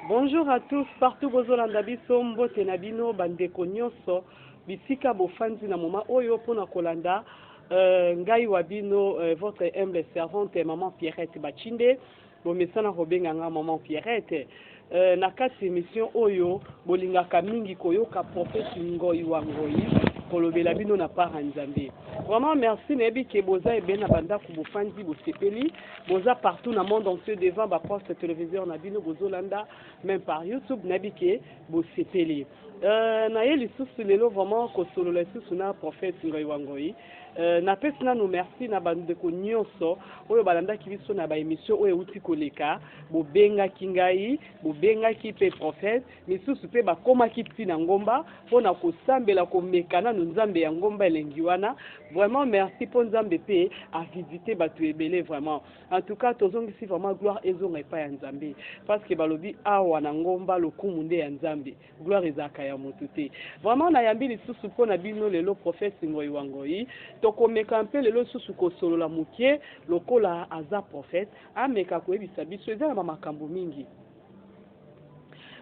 Bonjour à tous partout bozo landa biso mbote na bino ba ndeko nionso bisika bofandi na moment oyo pona kolanda euh, ngai wa bino euh, votre humble servante maman Pierrette Bachinde bomesana kobenga nga maman Pierrette euh, na kati emission oyo bolingaka mingi koyoka prophète Ngoyi wa Ngoyi kolobela bino na part ya Nzambe vraiment merci nayebi ke boza ebele na bandako bofandi bosepeli Boza partout na monde entier devant ba poste televiseur na bino bozo landa meme par YouTube na bike bosepeli euh, na ye lisusu lelo vraiment kosolola lisusu na prophète Ngoyi wa Ngoyi euh, na pesi nanu merci na bandeko nyonso oyo balandaki biso na ba émission oyo euti koleka bobengaki ngai bobengaki pe prophète Misusu pe bakomaki ti na ngomba pona kosambela komeka nanu nzambe ya ngomba elengi wana vraiment merci po nzambe pe a visite batu ebele vraiment en tout cas tozongisi vraiment gloire ezonga epai ya nzambe parce que balobi awa na ngomba lokumu nde ya nzambe gloire ezalaka ya mutu te vraiment na yambi lisusu pona bino lelo prophète ngoyi wa ngoyi tokomeka mpe lelo lisusu kosolola mukie lokola aza prophète ameka koyebisa biso eza na ba makambo mingi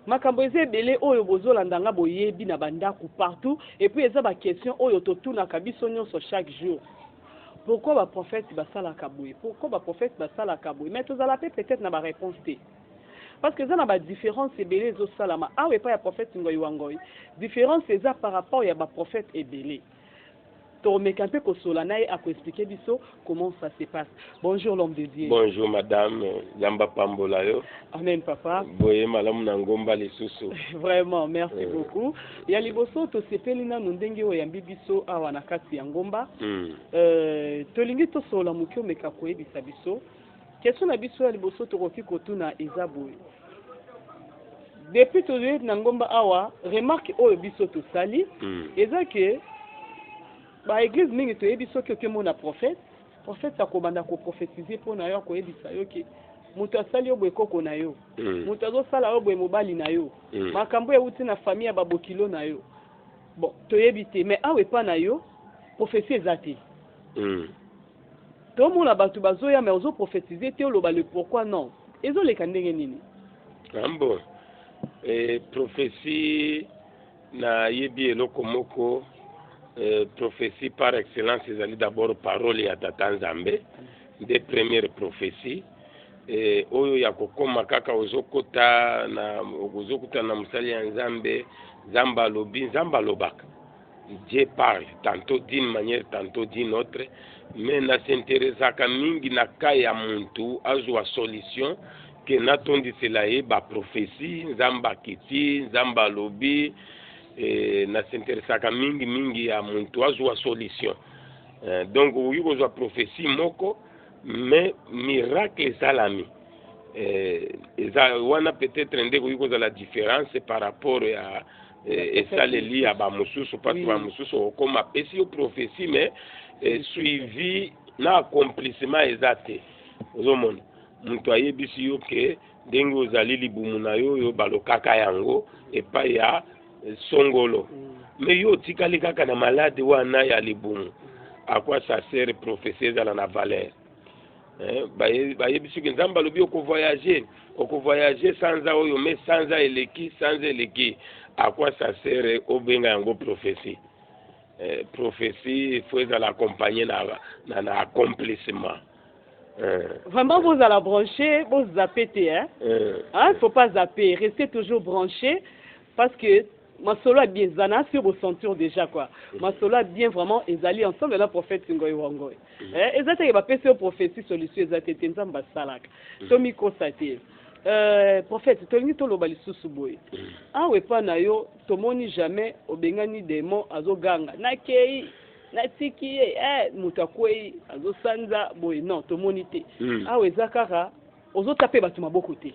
Makambo eza ebele oyo bozo landa nga boyebi na ba ndaku partout epuis eza ba question oyo to tunaka biso nionso chaque jour pourquoi ba prophète ba salaka boye pourquoi ba prophète ba salaka boye mais tozala pe peut etre na ba reponse te parce que eza na ba difference ebele ezo salama awa epai ya prophète ngoy wa ngoy difference eza par rapport ya ba prophète ebele Tokomeka mpe kosola naye ako expliquer biso comment ça se passe. Bonjour l'homme de Dieu. Bonjour madame, Nzambe apambola yo. Amen papa. Boye malamu na ngomba lisusu. Vraiment, merci euh. beaucoup. Ya liboso tosepeli nanu ndenge oyambi biso awa na kati ya ngomba. Mm. Euh, tolingi tosola moke omeka koyebisa biso Question na biso ya liboso tokoki kotuna eza boye, depuis toye na ngomba awa remarque oyo biso tosali mm. eza ke ba eglise mingi toyebi soki okemona prophète prophète akobanda koprofetize mpo na yo akoyebisa yo ke moto asali yo boye koko na yo mm. moto azosala yo boye mobali na yo mm. makambo euti na famille ya babokilo na yo bon toyebi te mais awa epa na yo profesi eza te mm. Tomona batu bazoya mais ozo prophetiser te oloba le pourquoi non ezo leka ndenge nini? Ah bon eh, prophetie nayebi eloko moko eh, prophetie par excellence ezali d'abord parole ya tata nzambe nde première prophetie eh, oyo ya kokoma kaka ozokota na ozokutana na mosali ya nzambe nzambe alobi nzambe alobaka Dieu parle tantot d'une manière tantot d'une autre mais na s'interessaka mingi na cas ya muntu azwa solution ke natondisela ye ba prophetie nzambe akiti nzambe alobi eh, na s'interessaka mingi mingi ya muntu azwa solution eh, donc okoki kozwa prophetie moko mais miracle esalami eh, eza wana peut-être nde ekoki kozala différence par rapport ya Eh, esaleli ya bamosusu mpasi bamosusu okoma apesi yo prophetie mais eh, suivi na accomplissement eza te ozomona moto ayebisi yo ke ndenge ozali libumu na yo oyo balokaka yango epai ya eh, songolo me mm. yo otikali kaka na malade wana ya libumu akwa sasere prophetie ezala na valeur Eh, bayebisi ke nzambe alobi okovoyage okovoyage sanza oyo me sanza eleki sanza eleki akwa sasere obenga yango prophesie eh, prophesie fo ezala accompagne na, na, na accomplissement eh. Vraiment, vous allez brancher, vous zappez, hein? Eh. Hein, faut pas zapper, restez toujours branché parce que Masolo ya bien za na sur bo sentur dejà quoi masolo ya bien vraiment ezali ensemble na prophète ngoy wa ngoy eh, eza te ke ba pesi yo prophetie solution eza te te nzambe asalaka to mi kosa te Euh, prophète tolingi toloba lisusu boye awa epa na yo tomoni jamais obengani demon azoganga nakei natiki ye eh, moto akwei azosanza boye non tomoni te mm. awa eza kaka ozotape bato maboko te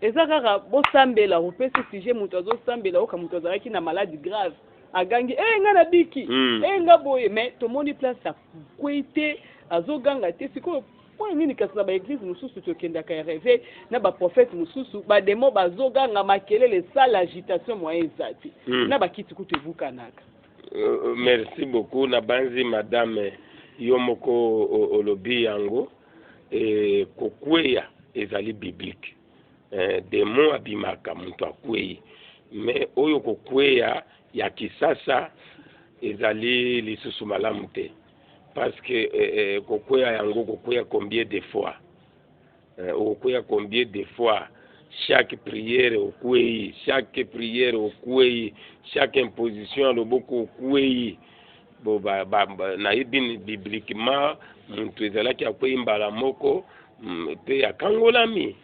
eza kaka bosambela opesi sujet moto azosambela oka moto azalaki na malade grave agangi e eh, nga na biki e hmm. eh, nga boye mais tomoni place akwei te azoganga te sikoyo mpo nini kasi na baeglize mosusu tokendaka ya reve na baprofete mosusu bademo bazoganga makelele sala agitation moyen eza te hmm. na bakiti kutu ebukanaka euh, euh, merci beaucoup nabanzi madame yo moko olobi yango Eh, kokweya ezali biblique. Eh, demon abimaka moto akwei, mais oyo kokweya ya kisasa ezali lisusu malamu te parce que eh, eh, kokweya yango kokweya combien de fois eh, okokweya combien de fois chaque prière okwei, chaque prière okwei, chaque imposition ya loboko okwei, Bo ba, ba, ba, nayebi bibliquement muntu ezalaki akwei mbala moko mpe mm, akangolami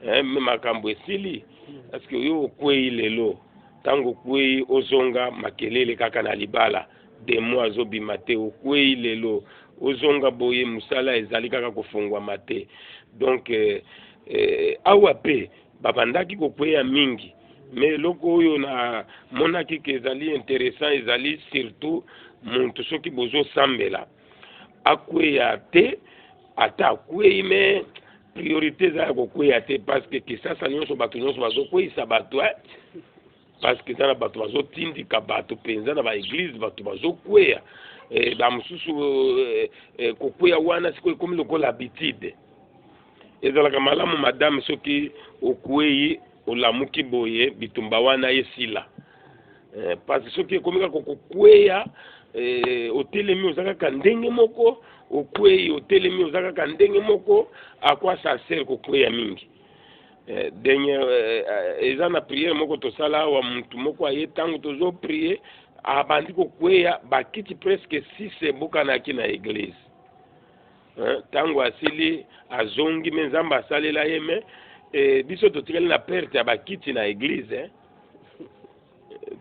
eh, me makambo esili parce que yo okwei lelo ntango okwei ozonga makelele kaka na libala demo azobima te okwei lelo ozonga boye mosala ezali kaka kofungwama te donc eh, eh, awa mpe Babandaki kokweya mingi me eloko oyo namonaki ke ezali interessant ezali surtout muntu soki bozosambela akweya te ata akwei me priorité eza ya kokweya te parce que kisasa nyonso bato nyonso bazokweyisa bato eh? parce que eza na bato bazotindika bato mpenza na baeglize bato bazokweya e, bamosusu e, e, kokweya wana sikoyo ekomi lokola habitude ezalaka malamu madame soki okwei olamuki boye bitumba wana esila e, parce soki ekomi kaka kokweya e, otelemi oza kaka ndenge moko okwei otelemi oza kaka ndenge moko akwa sarcele kokweya mingi Eh, denye eh, eh, eza na priere moko tosala awa mutu moko aye ntango tozo prie abandi kokweya bakiti presque six ebukanaki na eglise ntango asili azongi me nzambe asalela ye me e, biso totikali na perte ya bakiti na eglise eh?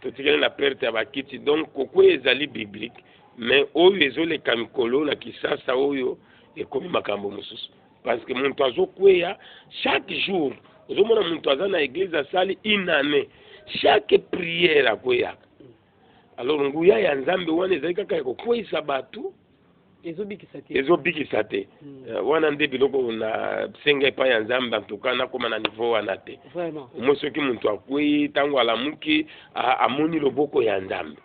totikali na perte ya bakiti donc kokweya ezali biblique me oyo ezoleka mikolo na kisasa oyo ekomi makambo mosusu parce que moto azokweya chaque jour ozomona moto aza na eglise asali une année chaque prière akweyaka alors nguya ya nzambe wana ezali kaka ya kokweyisa bato ezobikisa te ezobikisa te hmm. eh, wana nde biloko na senga epai ya nzambe antuka nakoma na niveau wana te moi soki moto akwei ntango alamuki amoni loboko ya nzambe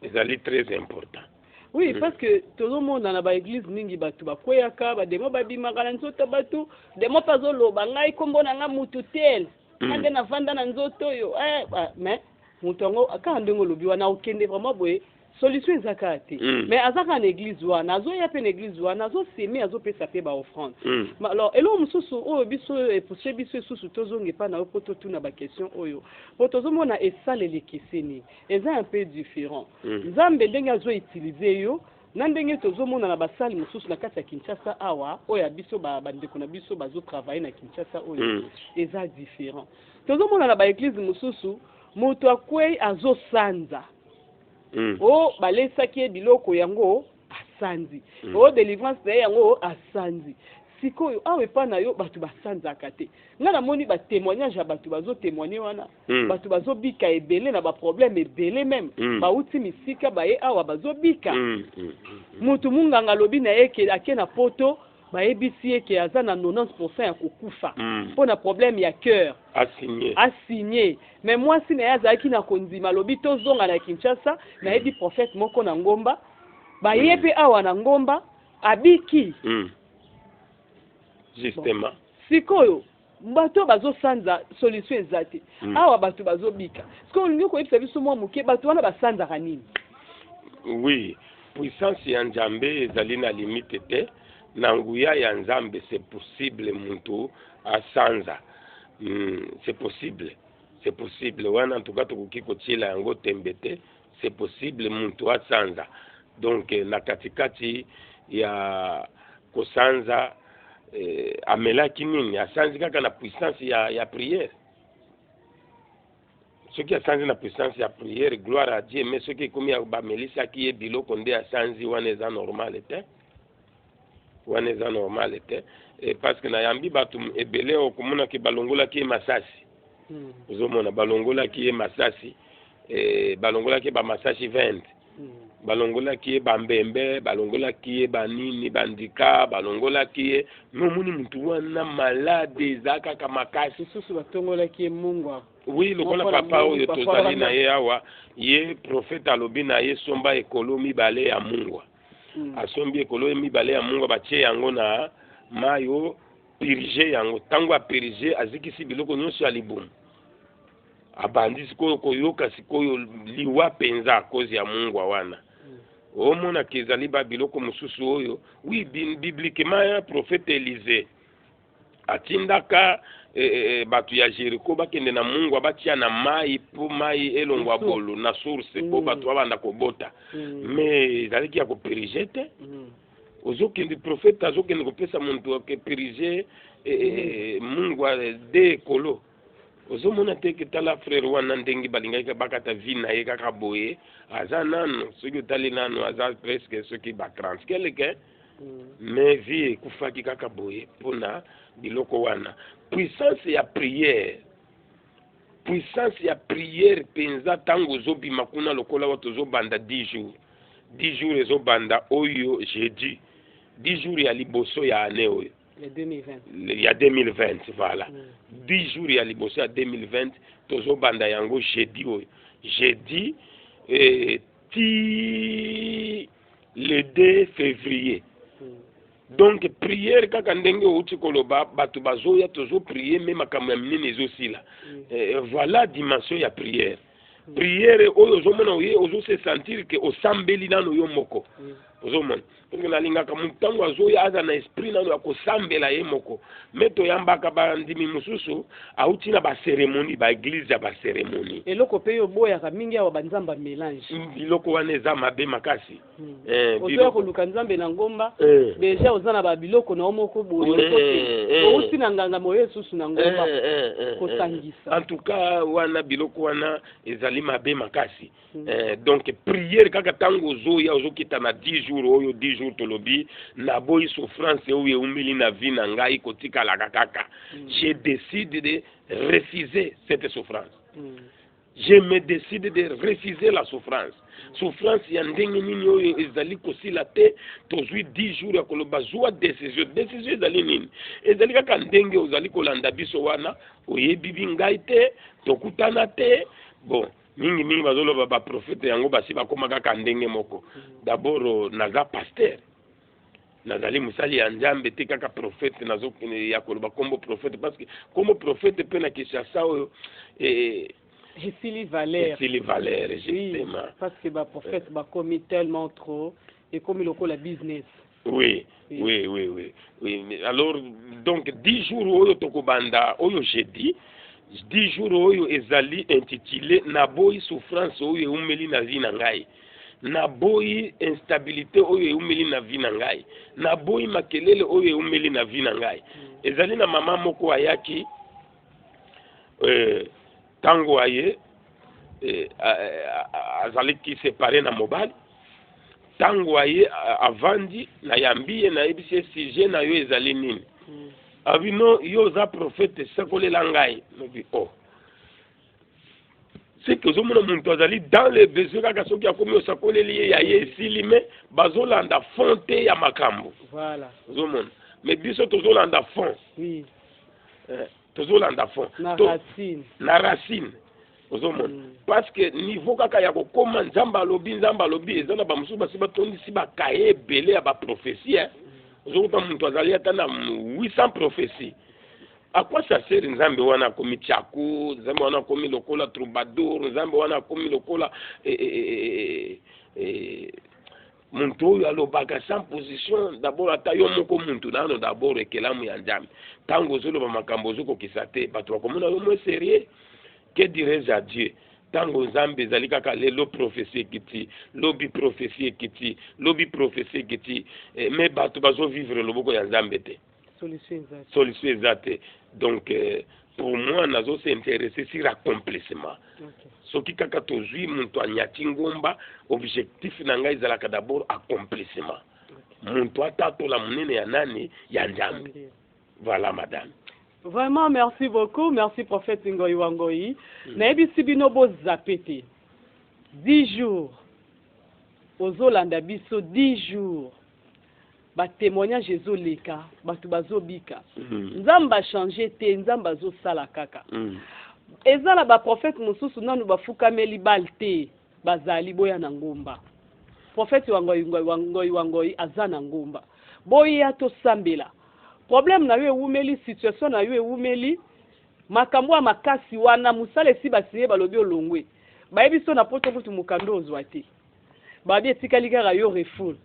ezali très important oui mm. parce que tozomona na baeglise mingi bato bakweyaka bademo babimaka na nzoto bato demo mpe azoloba ngai nkombo na ngai motu tel mm. nga nde navanda na nzoto oyo eh, mais moto yango kaka ndenge olobi wana okende vraiment boye solution eza kaka te mm. mais aza kaka na église wana azoya mpe na église wana azoseme azopesa mpe baoffrande mm. alors eloko mosusu oyo biso epushe biso esusu tozonga epai na yo mpo totuna baquestion oyo mpo tozomona esaleli ekeseni Eza un peu different. Nzambe ndenge azo utiliser yo na ndenge tozo mona na ba salle mususu na kati ya Kinshasa awa oyo ya biso ba ba ndeko na biso bazo travailler na Kinshasa oyo eza different. Tozo mona na ba eglise mususu mutu akueyi azo sanza oh balesaki ye biloko yango asanzi mm. o oh, delivrance na ye yango oh, asanzi sikoyo awa epai na yo bato basanzaka te ngai namoni batémoignage ya bato bazotémoigne wana mm. bato bazobika ebele na baproblème ebele meme mm. bauti misika baye awa bazobika mm. mm. mm. moto monganga alobi na ye eke ake na poto Bayebisi ye ke aza na 90 pourcent ya kokufa mpo na problème ya coeur. A signer. Mais mwasi na ye azalaki na kondima, alobi tozonga na Kinshasa, nayebi prophète moko na ngomba. Baye mpe awa na ngomba, abiki. Bon, sikoyo. Bato oyo bazo sanza solution eza te awa bato bazo bika sikoyo olingi koyebisa biso mwa moke bato wana ba sanzaka nini? Oui puissance ya nzambe ezali na limite te na nguya ya nzambe c'est possible mutu asanza c'est possible c'est possible wana en tout cas tokoki kotiela yango tembe te. C'est possible mutu asanza donc na katikati ya kosanza eh, amelaki nini asanzi kaka na puissance ya, ya prière soki asanzi na puissance ya prière gloire à dieu mais soki ekomi bamelisaki ye biloko nde asanzi wana eza normal te wana eza normal te e, parce que nayambi bato ebele okomonaki balongolaki ye masasi hmm. ozomona balongolaki ye masasi e, balongolaki ye bamasasi 20 hmm. balongolaki ye bambembe balongolaki ye banini bandika balongolaki ye nomoni motu wana malade eza kaka makasi susu batongolaki ye mungwa oui lokola papa oyo tozali na ye awa ye profete alobi na ye somba ekolo mibale ya mungwa asombi ekolo mibale ya mungwa batie yango na mai o purge yango ntango apurge azikisi biloko nyonso ya libumu abandi sikoyo koyoka sikoyo liwa mpenza kozi ya mungwa wana omonaka ezali babiloko mosusu oyo wi biblikema ya profete elise atindaka e, e, bato ya jeriko bakende na mungwa batia na mai mpo mai elongwa bolu na source mpo mm. bato babanda kobota mm. me ezalaki ya koperige te mm. ozokende profete azokende kopesa moto akeperige e, e, mungwa de ekolo ozomona te ke tala frere wana ndenge balingaki bakata vi na ye kaka boye aza nano soki otali nano aza preske soki ba 30 keleke mais vie ekufaki kaka boye mpona biloko wana puissance ya prière puissance ya prière mpenza ntango ozobima kuna lokola oyo tozobanda 10 jours 10 jours ezobanda oyo jeudi 10 jours ya liboso ya année oyo ya 2020 voilà 10 mm. jours ya liboso ya 2020 tozobanda yango jeudi oyo jeudi eh, ti le 2 février donc prière kaka ndenge outi koloba bato bazoya tozoprie me makambo ya minene ezosila mm. eh, voilà dimension ya prière mm. prière oyo ozomona oye ozose sentir ke osambeli nano yo moko mm. ozomona parceke nalingaka motu ntango azoya aza na esprit nano ya kosambela ye moko me toyambaka bandimi mosusu Awuti na ba ceremonie ba eglise ya ba ceremonie. Eloko pe yo oboyaka mingi awa ba nzambe ya melange. Biloko wana eza mabe makasi. Eh, ozo ya koluka nzambe na ngomba eh. Deja oza na ba biloko na yo moko boye eh, eh, eh. Owuti na nganga moye susu na ngomba eh, eh, eh, kosangisa. En tout cas wana biloko wana ezali mabe makasi. Eh, donc prière kaka ntango ozoya ozokita na 10 jours oyo 10 jours tolobi naboyi souffrance oyo eumeli na vie na ngai kotikalaka kaka mm. je décide de refuser cette souffrance mm. je me décide de refuser la souffrance souffrance ya ndenge nini oyo ezali kosila te tozwi 10 jours ya koloba zwa decision decision ezali nini ezali kaka ndenge ozali kolanda biso wana oyebi bi ngai te tokutana te bon mingi mingi bazoloba baprofete yango basi bakoma kaka ndenge moko dabord euh, naza pasteur nazali mosali ya nzambe te kaka profete nazo euh, ya koloba nkombo profete parce que nkombo profete mpe na kinshasa oyo eh, esili valeur esili valeur justement oui, parce que baprofete eh. bakomi tellement trop ekomi lokola business oui oui oui oui oui alors donc 10 jours oyo tokobanda oyo jeudi 10 jours oyo ezali intitulé naboyi souffrance oyo eumeli na vie na ngai naboyi instabilité oyo eumeli na vie na ngai naboyi makelele oyo eumeli na vie na ngai mm. ezali na mama moko ayaki euh, ntango aye eh, azalaki separe na mobali ntango aye avandi nayambi ye nayebisi ye sujet na yo ezali nini hmm. abi no yo oza profete sekolela ngai nobi o oh. seke ozomona moto azali dans le besoin kaka soki akomi osakoleli ye ya ye esili me bazolanda fond te ya makambo ozomona mais biso tozolanda fond oui. eh. tozolanda fond na racine ozomona mm. parce que niveau kaka ya kokoma nzambe alobi nzambe alobi eza na bamosusu basi batondisi bakaye ebele ya baprophesie eh. ozokuta moto azali ata na 800 prophesie akwasi aseri nzambe wana akomi chaku nzambe wana akomi lokola troubadour nzambe wana akomi lokola eh, eh, muntu oyo alobaka sans position dabord ata yo moko muntu nano dabord ekelamu ya nzambe ntango ozoloba makambo ozokokisa te bato bakomona yo mwe serieux que dirais à dieu ntango nzambe ezali kaka lelo profesi ekiti lobi profesi ekiti lobi profesi ekiti eh, me bato bazovivre loboko ya nzambe te solution eza te solution eza te donc euh, pour moi nazo s'intéresser sur accomplissement okay. soki kaka tozwi moto anyati ngomba objectif na ngai ezalaka d'abord accomplissement okay. moto atatola monene ya nani ya nzambe okay. voilà madame vraiment merci beaucoup merci prophète ngoyi wa ngoyi mm. nayebisi bino bozape te 10 jours ozolanda biso 10 jours ba temoignage ezo leka batu bazo bika mm. nzambe a change te nzambe azo sala kaka mm. eza na ba prophète mosusu nanu bafukameli bal te bazali boya na ngomba prophète wangoi wangoi wangoi aza na ngomba boya tosambela problème na yo ewumeli situation na yo ewumeli makambo ya makasi wana mosala esi basinye balobi olongwe bayebi so na poto kutu mokando ozwa te Babi etikali kaka yo refoul.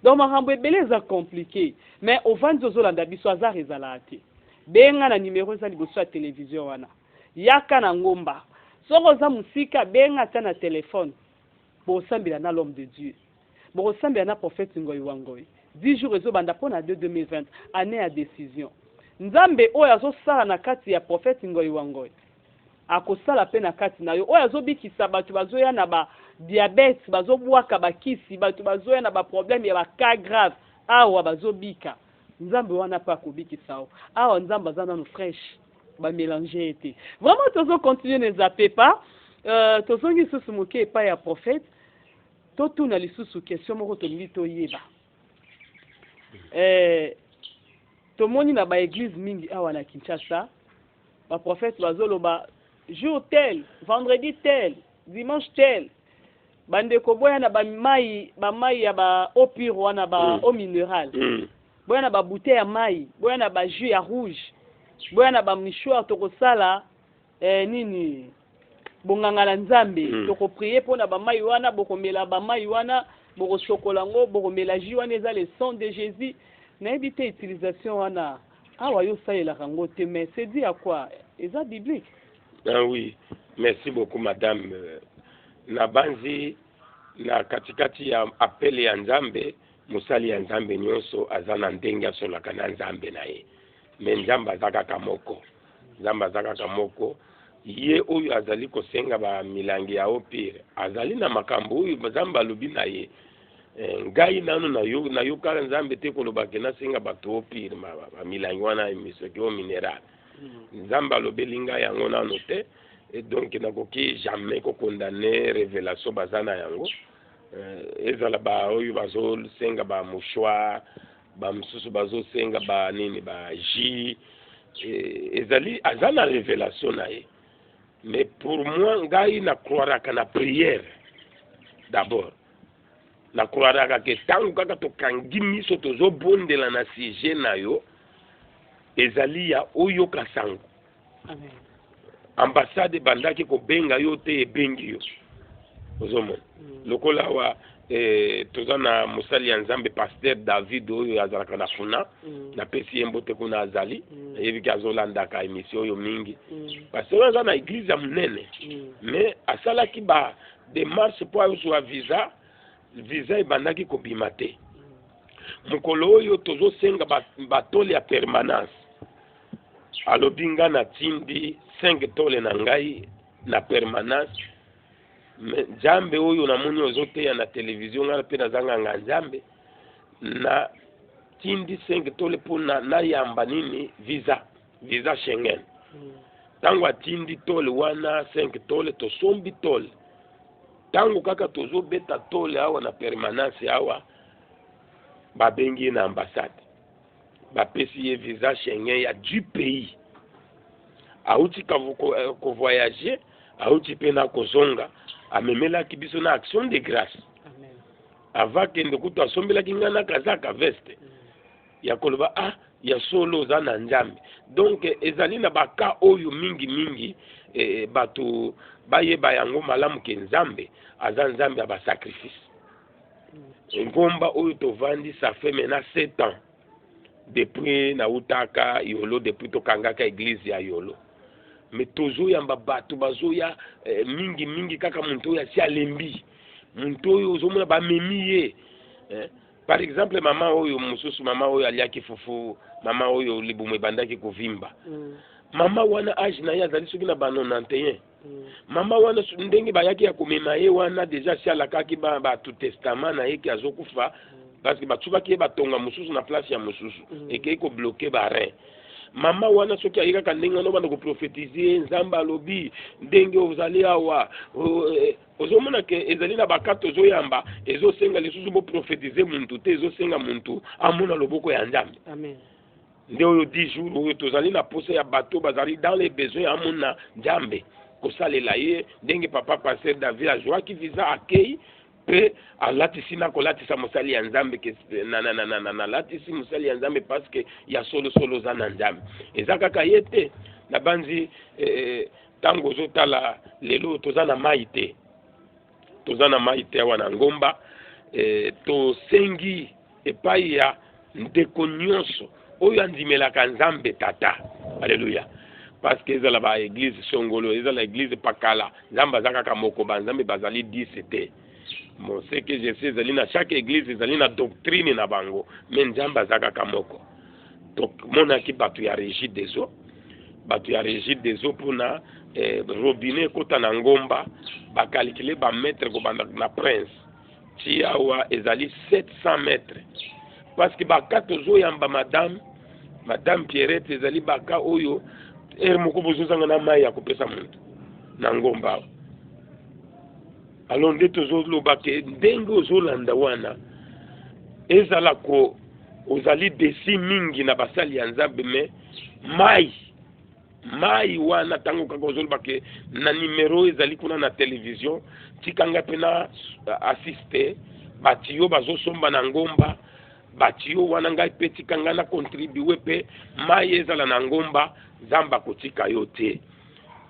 Donc makambo ebele eza complique mais ovandi ozolanda biso hasard ezalaka te. Benga na numero eza liboso ya television wana. Yaka na ngomba. Soki oza musika benga ata na telephone. Bosambela na l'homme de Dieu. Bokosambela na prophète Ngoy wa Ngoy. 10 jours ezobanda pona 2 2020 annee ya decision. Nzambe oyo azosala na kati ya prophète Ngoy wa Ngoy. Akosala pe na kati na yo. Oyo azo bikisa batu bazo ya na ba diabète, bazo bwaka ba kisi, batu bazo ya na ba problème ya ba cas grave, awa bazo bika. Nzambe wana pe ako bikisa yo. Awa Nzambe aza nanu fraiche. Ba melanger ye te. Vraiment tozo continuer ne zapper pas. Euh, tozongi lisusu moke epai ya prophète. Totuna lisusu question moko tolingi toyeba. Eh, tomoni na ba eglise mingi awa na Kinshasa, Ba prophètes bazo loba jour tel, vendredi tel, dimanche tel. Ba ndeko boya na ba mayi, ba mayi ya ba eau pure wana ba mm. eau minerale. Mm. Boya na ba bouteilles ya mayi, boya na ba jus ya rouge, boya na ba mouchoirs tokosala eh, nini bonganga na nzambe mm. tokopriye mpo na bamai wana bokomela bamai wana bokosokola yango bokomela ji wana eza le sang de jésus nayebi te utilisation wana awa yo osalelaka yango te mais c'est dit à quoi eza biblique ah oui merci beaucoup madame euh, nabanzi na katikati ya apele ya nzambe mosali ya nzambe nyonso aza na ndenge asolaka na nzambe na ye me nzambe aza kaka moko Nzambe aza kaka moko. Ye oyo azali kosenga ba milangi ya eau pure azali na makambo oyo Nzambe alobi na ye. Eh, ngai nano nayo nayokala nzambe te koloba ke nasenga bato opire bamilangi wana misoki o mineral hmm. nzambe alobeli ngai yango nano te et donc nakoki jamais kokondane révélation baza na yango eh, ezala baoyo bazosenga bamouchoir ba misusu bazo senga ba nini ba jus eh, ezali aza na revelation na ye mais pour moi ngai na croiraka na prière d'abord na croiraka ke ntango kaka tokangi miso tozobondela na sujet na yo ezali ya oyoka sango ambassade ebandaki kobenga yo te ebengi yo ozomona mm. lokola awa eh, toza na mosali ya nzambe paster david oyo azalaka na funa mm. napesi ye mbote kuna azali mm. ayebiki azolandaka emission oyo mingi mm. paster oyo aza na eglize ya monene mm. mais asalaki ba demarche mpo azwa visa visa ebandaki kobima te mm. mokolo oyo tozosenga batole ba ya permanence alobi nga na tindi 5 tole na ngai na permanence me nzambe oyo namoni ozoteya na televizio ngai mpe nazanganga nzambe na tindi 5 tole mpo na nayamba nini visa visa schengen ntango hmm. atindi tole wana 5 tole tosombi tole ntango kaka tozobeta tole awa na permanence awa babengi ye na ambassade bapesi ye visa Schengen ya du pays auti eh, kovoyage auti mpe na kozonga amemelaki biso na action de grâce ava kende kutu asombelaki ngai na kazaka veste mm. ya koloba ah ya solo oza na nzambe donc eh, ezali na baka oyo mingi mingi eh, bato bayeba yango malamu ke nzambe aza nzambe ya basacrifice ngomba oyo tovandi ça fait maintenant 7 ans depuis nautaka yolo depuis tokangaka eglise ya yolo me tozoyamba bato bazoya eh, mingi mingi kaka moto oyo asi alembi moto oyo ozomona bamemi ye eh? par exemple mama oyo mosusu mama oyo aliaki fufu mama oyo libumu ebandaki kovimba mm. mama wana age na ye azali soki na ba 91 mama wana su- ndenge bayaki ya komema ye wana deja si alakaki ba- bato testament na ye ke azokufa parce que batsukaki ye batonga mosusu na place ya mosusu Mm. ekei kobloke barin mama wana soki aye kaka ndenge wana obanda koprofetize nzambe alobi ndenge ozali awa o- eh, ozomona ke ezali na bakate ozoyamba ezosenga lisusu boprofetize muntu te ezosenga muntu amona loboko ya nzambe amen nde oyo di jour oyo tozali na posa ya bato bazali dans les besoins ya amona nzambe kosalela ye ndenge papa pasteur david azwaki visa akei mpe alatisi na kolatisa mosali ya nzambe nalatisi mosali ya nzambe parceke ya solosolo oza na nzambe eza kaka ye te nabanzi ntango eh, eh, ozotala lelo toza na mai te toza na mai te awa na ngomba e, tosengi epai ya ndeko nyonso oyo andimelaka nzambe tata aleluya parceke ezala baeglize songolo ezala eglize pakala nzambe aza kaka moko banzambe bazali 10 te moseke jesi ezali na chaque eglize ezali na doctrine na bango me nzambe aza kaka moko tomonaki bato ya regie des eaux bato ya regie des eaux mpona eh, robinet ekota na ngomba bakalikile bametre kobanda na prince ti awa ezali 700 metre parce que baka tozoyamba madame madame pierrette ezali baka oyo ere moko bozozanga na mai ya kopesa moto na ngomba awa alors nde tozoloba ke ndenge ozolanda wana ezala ko ozali desi mingi na basali ya nzambe me mai mai wana ntango kaka ozoloba ke na nimero ezali kuna na televizio tika ngai mpe na assiste bato yo bazosomba na ngomba bato yo wana ngai mpe tika ngai na contribue mpe mai ezala na ngomba nzambe akotika yo te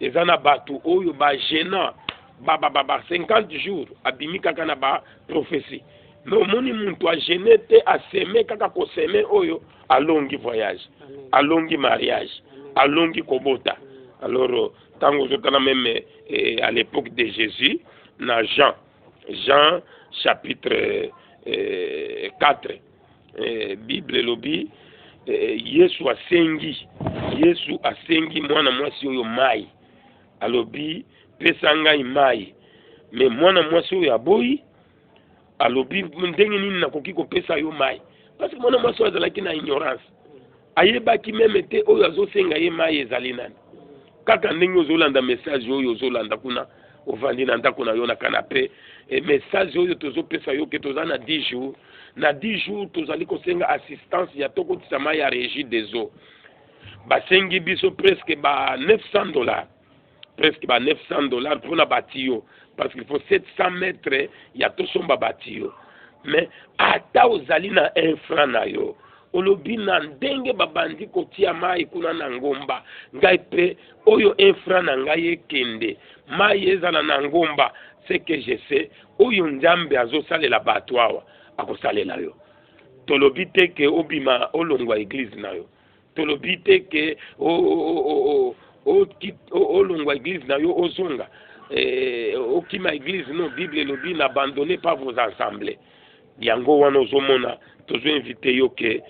eza na bato oyo bagena ba, ba, ba, ba 50 jours abimi kaka na ba prophetie me omoni muntu agene te aseme kaka koseme oyo alongi voyage alongi mariage alongi kobota alors ntango ozotala meme eh, à l'époque de jésus na jean jean chapitre eh, 4 Eh, Bible elobi eh, Yesu asengi Yesu asengi mwana mwasi oyo mai, alobi pesa ngai mai, me mwana mwasi oyo aboyi, alobi ndenge nini nakoki kopesa yo mai? Parce que mwana mwasi oyo azalaki na ignorance ayebaki meme te oyo azosenga ye mai ezali nani kaka ndenge ozolanda message oyo ozolanda kuna ovandi na ndako na yo na kanape e message oyo tozopesa yo ke toza na 10 jours na 10 jours tozali kosenga assistance ya tokotisa mai ya régie des eaux basengi biso presque ba 900 dollars presque ba 900 dollars pona ba tuyaux parce qu'il faut 700 mètres ya tosomba ba tuyaux mais ata ozali na un franc na yo olobi na ndenge babandi kotia mai kuna na ngomba ngai mpe oyo un franc na ngai ekende mai ezala na ngomba ce que je sais oyo nzambe azosalela bato awa akosalela yo tolobi te ke obima olongwa eglize na yo tolobi te ke olongwa eglise na yo ozonga eh, okima eglise no bible elobi na abandonne pas vos ensemble yango wana ozomona tozoinvite yo ke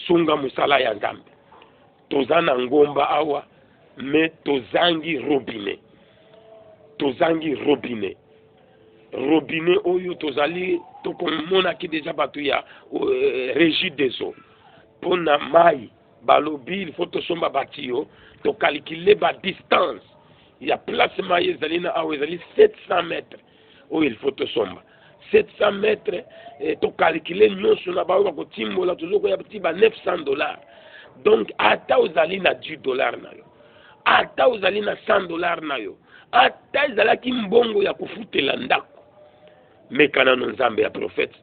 sunga mosala ya nzambe toza na ngomba awa me tozangi robinet tozangi robinet robinet oyo tozali tokomonaki deja bato ya euh, regie des eaux mpo na mai balobi il faut tosomba batiyo tokalikile ba distance ya place mai ezali na awa ezali 700 mètre oyo il faut tosomba 700 mètre eh, tokalikile nyonso na baoyo bakotimbola tozokoya ti ba 900 dollars donc ata ozali na 10 dollars na yo ata ozali na 100 dollars na yo ata ezalaki mbongo ya kofutela ndako meka nano nzambe ya profete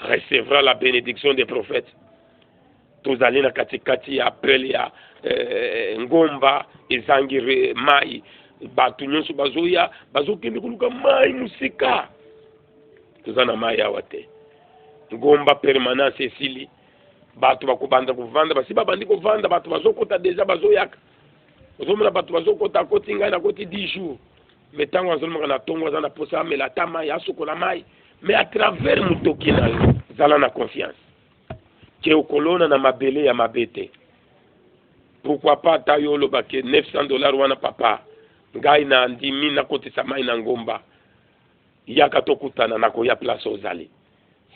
recevra la benediction des prophètes tozali na katikati ya appel ya eh, ngomba ezangi mai bato nyonso bazoya bazokende koluka mai mosika toza na mai awa te ngomba permanence esili bato bakobanda kovanda basi babandi kovanda bato bazokota deja bazoyaka ozomona bato bazokota akoti ngai nakoti 10 jours me ntango azolomaka na ntongo aza na mposa amela ata mai asokola mai me à travers motoki na yo zala na confiance ke okolona na mabele ya mabe te pourquoi pas ata yo oloba ke 900 dollars wana papa ngai na ndimi nakotisa mai na ngomba yaka tokutana nakoya place ozali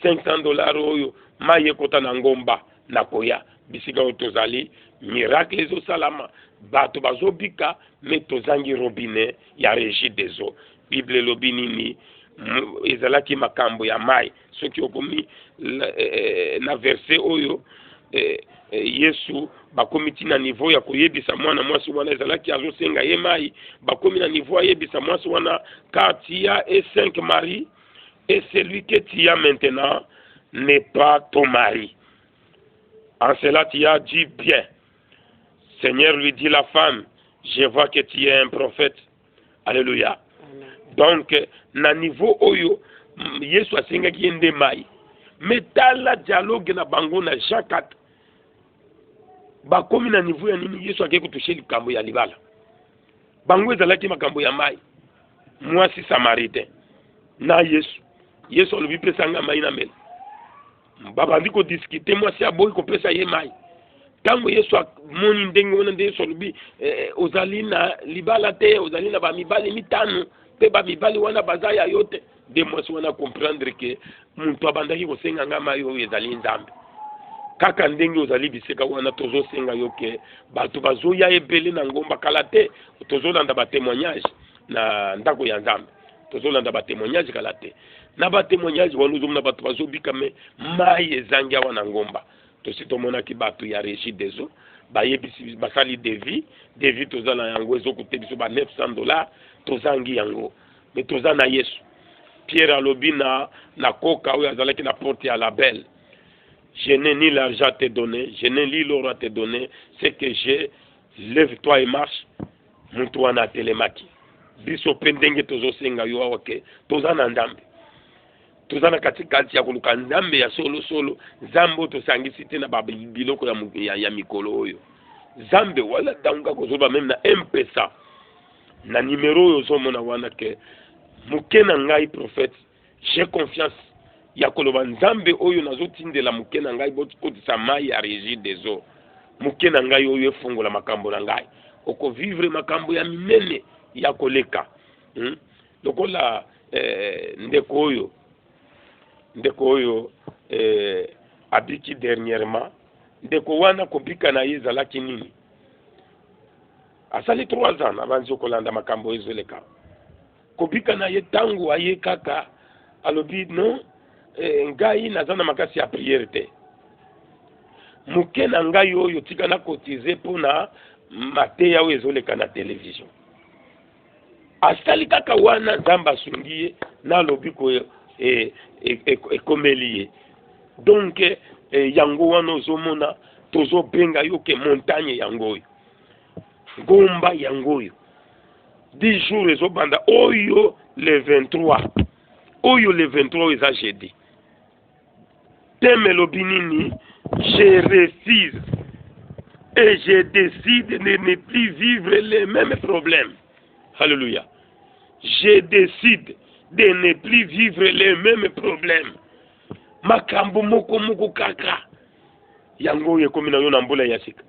500 dollars oyo mayi ekota na ngomba na koya bisika oyo tozali miracle ezosalama bato bazobika me tozangi robinet ya regie des eaux bible elobi nini ezalaki makambo ya mai soki okomi eh, eh, na verse oyo eh, yesu bakomi ti na niveau ya koyebisa mwana mwasi wana ezalaki azosenga ye mai bakomi na niveau ayebisa mwasi wana kati ya e 5 marie et celui que tu as maintenant n'est pas ton mari. En cela, tu as dit bien. Seigneur lui dit la femme, je vois que tu es un prophète. Alléluia. Donc, na niveau oyo, Yesu asengaki ye nde mai. Mais tala dialogue na bango na Jean 4. Bakomi na niveau ya nini Yesu akei kotushe likambo ya libala. bango ezalaki makambo ya mai mwasi samaritain na yesu yesu alobi pesa ngai mai na mela babandi kodiskite mwasi aboyi kopesa ye mai ntango yesu amoni ndenge wana nde yesu alobi eh, ozali na libala te ozali na bamibali mitano mpe bamibali wana baza ya yo te nde mwasi wana comprendre ke moto abandaki kosenga ngai mai oyo ezali nzambe kaka ndenge ozali bisika wana tozosenga yo ke bato bazoya ebele na ngomba kala te tozolanda batemoignage na ndako ya nzambe tozolanda batemoignage kala te na batemoignage wana ozomona bato bazobika me mai ezangi awa na ngomba tosi tomonaki bato ya régie des eaux bayebisi basali devis devis toza na yango ezokuta biso ba 900 dollars tozangi yango me toza na yesu pierre alobi na na koka oyo azalaki na porte ya label je n'ai ni l'argent te donner je n'ai ni l'or te donner ce que j'ai lève toi et marche moto wana atelemaki biso mpe ndenge tozosenga yo awa ke toza na ndambe toza na katikati ya koluka nzambe ya solosolo nzambe oyo tosangisi te na biloko ya, ya, ya mikolo oyo nzambe wala ntango kaka kozoloba meme na mpesa na numero oyo ozomona wana ke moke na ngai prophète j'ai confiance ya koloba nzambe oyo nazotindela moke na ngai bokotisa mai ya régie des eaux moke na ngai oyo efongola makambo na ngai okovivre makambo ya minene ya koleka hmm? lokola eh, ndeko oyo ndeko oyo eh, abiki dernièrement ndeko wana kobika na ye ezalaki nini Asali trois ans nabanzi okolanda makambo ezo leka kobika na ye tango aye kaka alobi non eh, ngai naza na makasi ya priere te moke na ngai oyo tika na cotize mpo na mateya oyo ezoleka na televizio asali kaka wana nzambe asungi ye na lobiko e, e, e, ekomeli ye donk yango wana ozomona tozobenga yo ke montagne yango oyo ngomba yango oyo 10 jours ezobanda oyo le 23 oyo le 23 oyo eza jeudi teme elobi nini je refuse et je décide de ne plus vivre les mêmes problèmes alléluia je décide de ne plus vivre les mêmes problèmes makambo moko moko kaka yango oyo ekomi na yo na mbula ya sika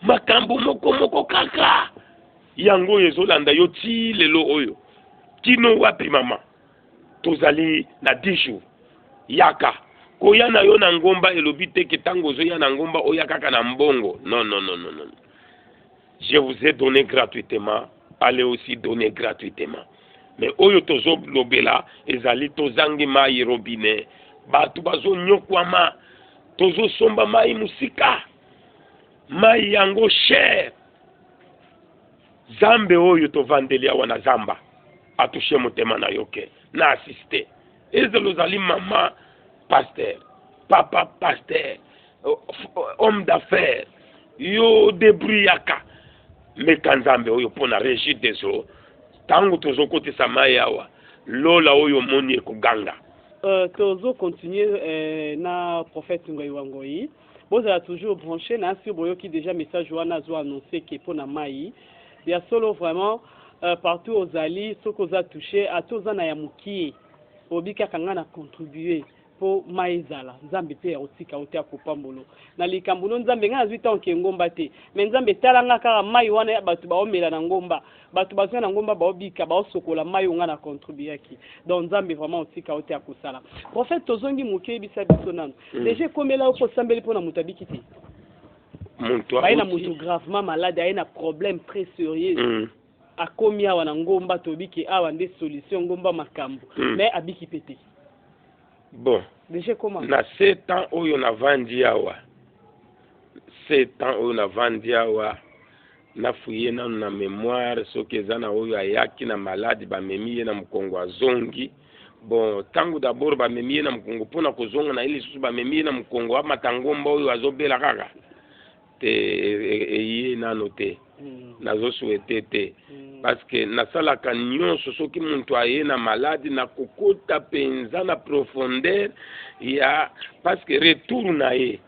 makambo moko moko kaka yango oyo ezolanda yo ti lelo oyo kino wapi mama tozali na 10 jours yaka koya na yo na ngomba elobi te ke ntango ozoya na ngomba oya kaka na mbongo non non non non je vous ai donné gratuitement allez aussi donner gratuitement mais oyo tozolobela ezali tozangi mai robinet bato bazonyokwama tozosomba mai mosika mai yango cher zambe oyo tovandeli awa na zamba atushe motema na yo ke na asiste ezala ozali mama pasteur papa pasteur homme d'affaires yo debruyaka meka nzambe oyo mpo na regi des eaux ntango tozokotisa mai awa lola oyo omoni ekoganga Euh, tozo continuer euh, na prophète Ngoyi wa Ngoyi Bozala toujours branche na sur boyoki deja message wana azo annonce ke pona mayi ya solo vraiment euh, partout ozali soki oza touche ata oza na ya mokie obi kaka nga na contribue po mai ezala nzambe mpe akotika yo te akopambolo na likambo no nzambe ngai nazwi ntango ke ngomba te me nzambe tala nga kaka mai wana ya bato baomela na ngomba Batu baza na ngomba bao bika bao sokola mayi oyo nga na contribuaki donc nzambe vraiment otika yo te ya kosala prophète tozongi muke yebisa biso nanu mm. deja ekomela yo ko sambeli pona mutu abiki te mutu aye na mutu gravement malade aye na problème très sérieux mm. akomi awa na ngomba toyebi ke awa nde solution ngomba makambo mm. mais abiki pe te bon deja comment na sept ans oyo navandi awa sept ans oyo navandi awa Na fouiller nanu na memoire soki eza na oyo ayaki na malade ba memi ye na mukongo azongi. Bon tangu d'abord ba memi ye na mukongo pona ko zonga na ye lisusu ba memi ye na mukongo amata ngomba oyo azo bela kaka te eye nanu te. Nazo souhaiter te parce que na salaka nionso soki mutu aye na malade na kokota penza na profondeur ya parce que retour na ye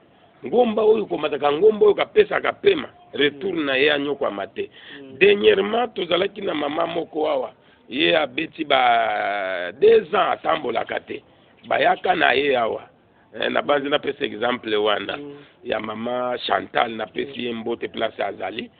ngomba oyo komataka ngomba oyo kapesaka pema retour mm. na ye anyokwama te mm. dernièrement tozalaki na mama moko awa ye abeti ba deux ans atambolaka te bayaka na ye awa eh, nabanzi napesa exemple wana mm. ya mama chantal napesi ye mbote place azali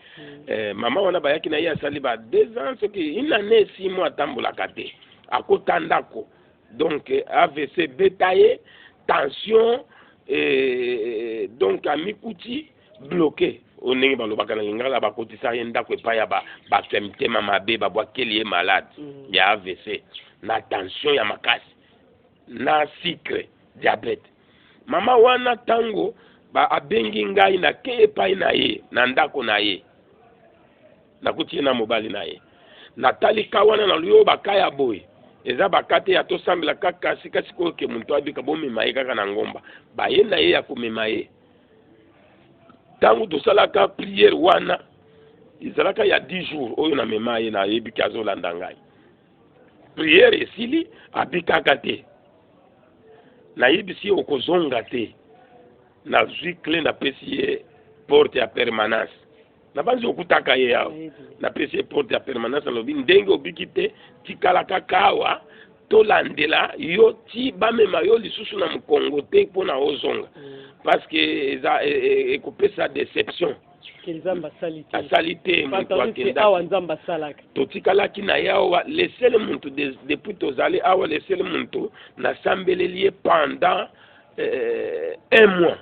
eh, mama wana bayaki na ye asali ba deux ans soki une année six mois atambolaka te akota ndako donc avc ebeta ye tension eh, donc amikuti bloke oyo ndenge balobaka na lingala bakotisaka ye ndako epai ya bato ya mitema mabe babwakeli ye malade mm. ya avc na tension ya makasi na sucre diabete mama wana ntango abengi ngai na ke epai na ye na ndako na ye nakuti ye na mobali na ye natali ka wana na luyo baka ya boye eza baka te ya tosambela kaka sika sikoyo ke moto abika bomema ye kaka na ngomba baye na ye ya komema ye ntango tosalaka priere wana ezalaka ya 10 jours oyo na mema ye nayebi ke azolanda ngai priere esili abikaka te nayebisi ye okozonga te nazwi cle napesi ye porte ya permanence nabanzi okutaka ye awa napesi ye porte ya permanence alobi ndenge obiki te tikala kaka awa tolandela yo ti bamema yo lisusu na mokongo te mpo na ozonga mm. parce que eza e, e, ekopesa deception asali te moto akendaki totikalaki na ye awa lesele moto depuis tozali awa lesele moto nasambeleli ye pendant euh, un mois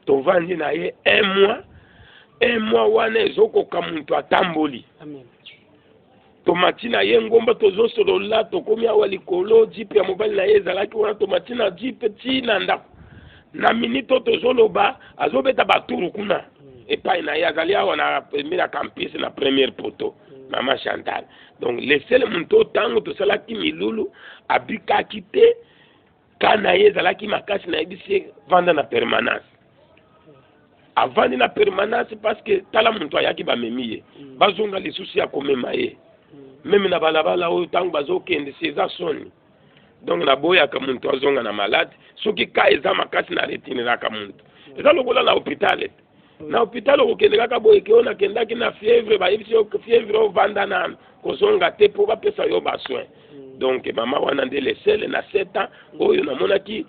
tovandi na ye un mois un mois wana ezokoka moto atamboli tomati na ye ngomba tozosolola tokomi awa likolo jipe ya mobali na ye ezalaki wana tomati na jipe ti na ndako na minite oyo tozoloba azobeta baturu kuna mm. epai na ye azali awa na pembe na campus na première poto mm. mama chantal donc lesele moto oyo ntango tosalaki milulu abikaki te ka na ye ezalaki makasi nayebisi ye vanda na permanence avandi na permanence parce que tala moto ayaki bamemi ye mm. bazonga lisusu ya komema ye mm. meme na balabala oyo ntango bazokende si eza soni donc naboyaka moto azonga na malade soki ka eza makasi na retiniraka moto mm. eza lokola na hopitale na hôpital okokende kaka boye ke oyo nakendaki na fièvre bayebisi yo fièvre ovanda na kozonga te mpo bapesa yo basoin mm. donc mama wana nde lesele na sept ans oyo namonaki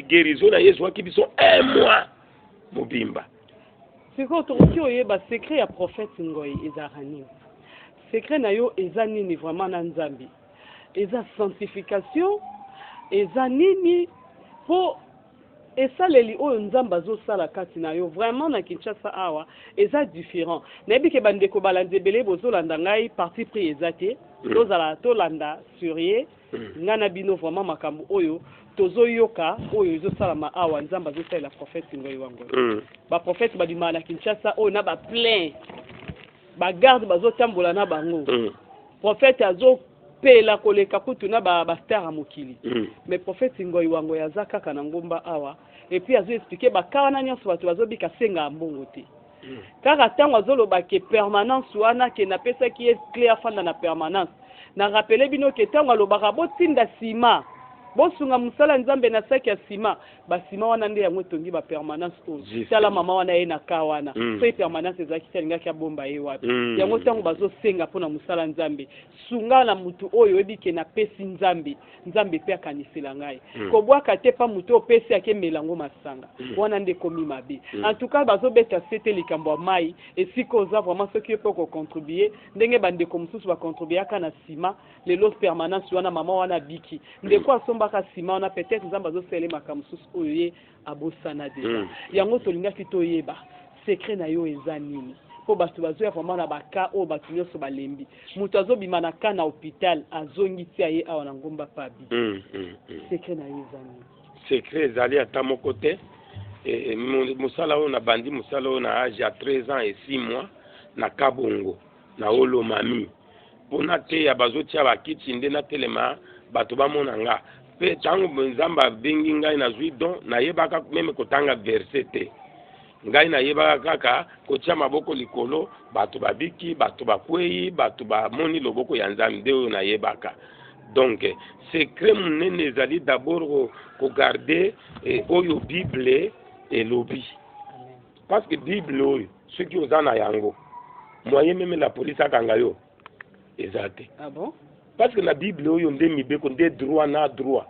guérison na ye ezwaki biso un mois mobimba sikoyo tokoki oyeba secret ya prophète ngoi ezalaka nini secret na yo eza nini vraiment na nzambe eza sanctification eza nini mpo Esaleli oyo nzambe azo sala kati na yo vraiment na Kinshasa awa eza different nayebi ke ba ndeko balandi ebele bozo landa ngai parti pris eza te tozala tolanda surie ngai na bino vraiment makambo oyo tozo yoka oyo ezo salama awa nzambe azo salela prophète ngoyi wa ngoyi mm. ba prophète ba bimaka na Kinshasa oyo na ba plein ba garde bazo tambola na bango mm. prophète azo pela koleka kutu na ba ba star ya mokili mm. mais prophète ngoi wa ngoi aza kaka na ngomba awa et puis azo expliquer ba cas wana nyonso bato bazobika senga mbongo te mm. kaka ntango azoloba ke permanence wana ke napesaki ye cle afanda na permanence na rapele bino ke ntango alobaka botinda sima bosunga mosala nzambe na saki ya sima Ba ciment wana nde yango etongi ba permanence oyo. Juste. Tala mama wana aye na cas wana. Mm. Soki permanence ezalaki te alingaki abomba ye wapi? Mm. Yango tango bazo senga mpo na mosala Nzambe, sunga na mutu oyo oyebi ke na pesi Nzambe, Nzambe mpe akanisela ngai. Mm. Kobwaka te pa mutu oyo opesi ake mela ngo masanga. Mm. Wana nde ekomi mabe. Mm. En tout cas bazo beta sete likambo ya mayi, esika oza vraiment soki yo mpe oko contribuer ndenge ba ndeko mosusu ba contribuaka na ciment, Lelo permanence wana maman wana abiki. Ndeko asombaka ciment wana peut-être Nzambe azosala ye makambo mosusu oyo ye abosana deja. Mm. Yango tolingaki toyeba secret na yo eza nini? mpo bato bazoya vraiment na baka oyo bato nyonso balembi moto azobima na ka na hopital azongi tia ye awa na ngomba pabi mm, mm, mm. sekre na yo eza nini sekre ezali ata moko te e, e, mosala oyo nabandi mosala oyo na age ya 13 ans et 6 mois na kabongo Na wolo mami mpo nateya, bazotia bakiti nde natelema bato bamona nga mpe ntango Nzambe abengi ngai nazwi don. Nayebaka meme kotanga verse te, ngai nayebaka kaka kotia maboko likolo, bato babiki, bato bakwei, bato bamoni loboko ya Nzambe, nde oyo nayebaka. Donc secret monene ezali d'abord kogarde eh, oyo Bible elobi. Parce que Bible oyo soki oza na yango moyen meme la police akanga yo eza te. Ah bon? Parce que na Bible oyo nde mibeko nde droit na droit.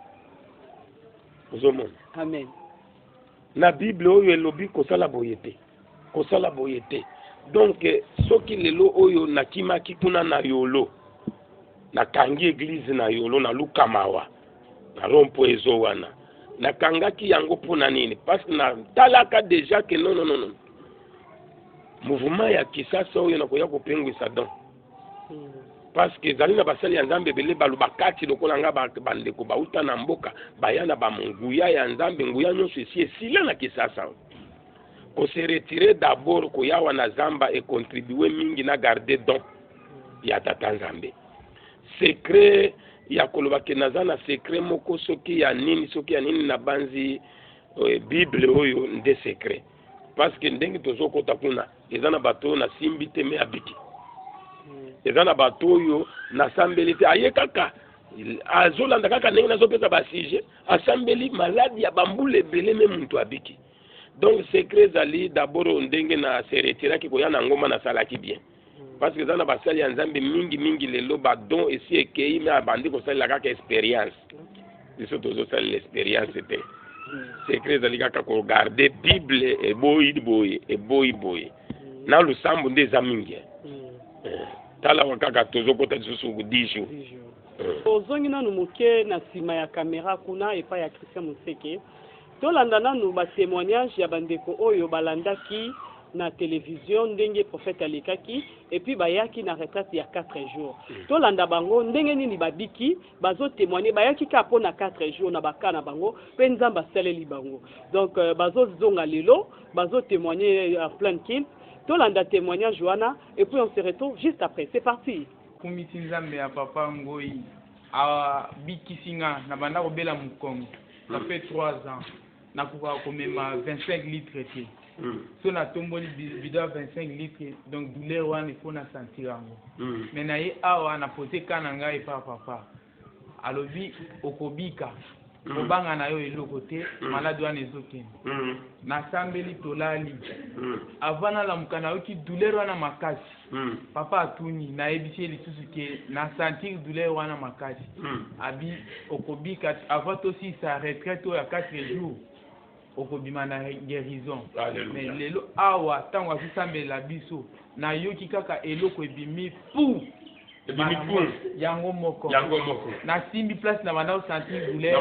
Ozomona? Amen. Na Bible oyo elobi kosala boye te. Kosala boye te. Donc soki lelo oyo nakimaki kuna na yolo Nakangi eglise na yolo na luka mawa na rompo ezo wana nakangaki yango mpo na nini parce que natalaka deja ke non, non, non, non. mouvement ya kisasa oyo nakoya kopengwisa don hmm. parce que ezali na basali ya nzambe ebele baloba kati lokola nga bandeko bauta na mboka baya na banguya ya nzambe nguya nyonso esi esila na kisasa oyo koseretire dabord koyawa na zamba ekontribue mingi na garde don ya tata nzambe secret ya koloba ke naza na secret moko soki ya nini soki ya nini nabanzi eh, bible oyo nde secret parce que ndenge tozokota kuna eza na bato oyo nasimbi te me abiki hmm. eza na bato oyo nasambeli te aye kaka azolanda kaka ndenge nazopesa basujet asambeli maladi ya bambula ebele me moto abiki donc secret ezali dabord ndenge na se retiraki koya na ngomba nasalaki bien parce que eza na basali ya nzambe mingi mingi lelo badon esi ekei me abandi kosalela kaka experience biso tozosalela experience te secret ezali kaka kogarde bible eboyi boye eboyi boye na losambo nde eza mingi eh. Eh, tala wa kaka tozokota lisusu 10 jours eh. ozongi nanu moke na nsima ya kamera kuna epai ya christian moseke Tolanda nanu ba temoignages ya ba ndeko oyo balandaki na television ndenge prophète alekaki et puis bayaki na retraite ya quatre jours. Tolanda bango ndenge nini babiki, bazo temoigner bayaki kaka pona quatre jours na ba cas na bango pe Nzambe asaleli bango. Donc bazo zonga lelo bazo temoigner en pleine culte. Tolanda temoignage wana et puis on se retrouve juste après. C'est parti. Akumisi Nzambe ya papa Ngoyi. A bikisi nga, na banda ko bela mukongo, ça fait trois ans na kokaka ko mema 25 litres te, soki na tomboli bidon ya 25 litres donc douleur wana il faut na sentir yango, mais na ye awa na poser cas na ngai epa papa, alobi okobika. kobanga na yo eloko te maladi wana ezokende nasambeli tolali avant nalamuka nayoki douleur wana makasi papa atuni nayebisi ye lisusu ke nasentir douleur wana makasi abi okobika avant tosilisa retraite oyo ya 4 jours okobima na guerison mais lelo awa tango azo sambela biso na yoki kaka eloko ebimi pou yango moko na simbi place na banda osanti boule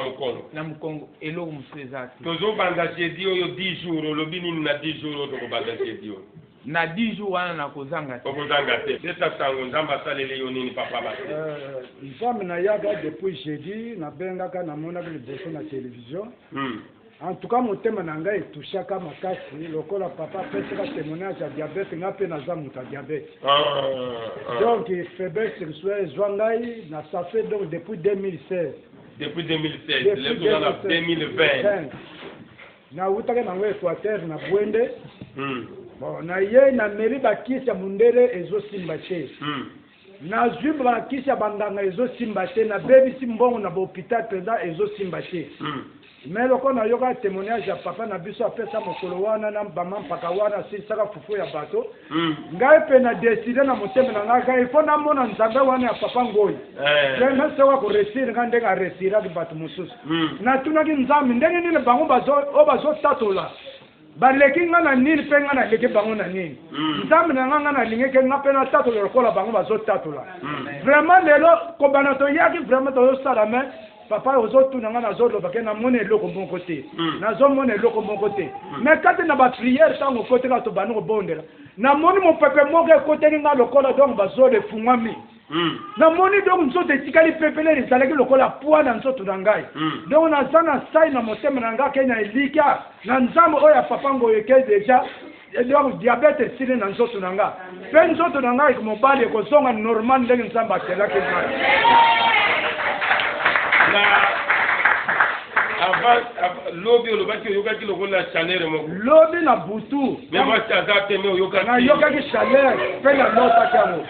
na mokongo eloko mosusu eza te tozobanda jeudi oyo 10 jours olobi nini na 10 jours oyo tokobanda jeudi oyo na 10 jours wana nakozanga te okozanga te pesa sango nzambe asaleli yo nini papa basi euh, nzambe nayaka depuis jeudi nabengaka namonaki liboso na television Hum en tout cas motema na nga etouchaka makasi lokola papa apesaka temoignage ya diabete nga pe naza moto ya diabete ah, ah. donc faiblesse sexuelle ezwa ngai na ça fait donc depuis 2016 depuis 2016 lelo toza na 2020 nawutaki nango équateur na bwende hmm. bon naye nameli bakisi ya mundele ezosimba te hmm. Nazui brakisi ya banganga ezo simba te na bebisi mbongo na ba hopital penza ezo simba te mais lokola na yoka temoignage ya papa na biso apesa mokolo wana na ba mampaka wana asilisaka fufu ya bato ngai pe na decide na motema na ngai ka il faut na mona nzambe wana ya papa ngoyi pe na soka ko reussir nga ndenge a reussiraki bato mosusu na tunaki nzambe ndenge nini bango bazo oyo bazo tatola Baleki nga na nini pe nga naleki bango na nini? Nzambe na nga nga nalingi ke nga pe natatola lokola bango bazo tatola. Vraiment lelo kobanda toyaki vraiment tozo sala mais papa ozo tuna nga nazo loba ke namoni eloko moko te. Nazo mona eloko moko te. Mais kati na ba prière tango okoti kaka tobandi kobondela namoni mopepe moko ekoteli nga lokola donc ba zolo efungwami. Mm. Namoni donc nzoto etikali pepele ezalaki lokola poids na nzoto na ngai. Mm. Donc naza na sai na motema na ngai ke na elikya na Nzambe oyo ya papa ngoyo ke deja eh, donc diabète esili na nzoto na ngai mpe nzoto na ngai mobali ekozonga normal ndenge Nzambe akelaki ngai. Na avant lobi olobaki oyokaki lokola chaleur moko. Lobi na butu. Mais moi aza te mais oyokaki. Na yokaki chaleur mpe na lotaki yango.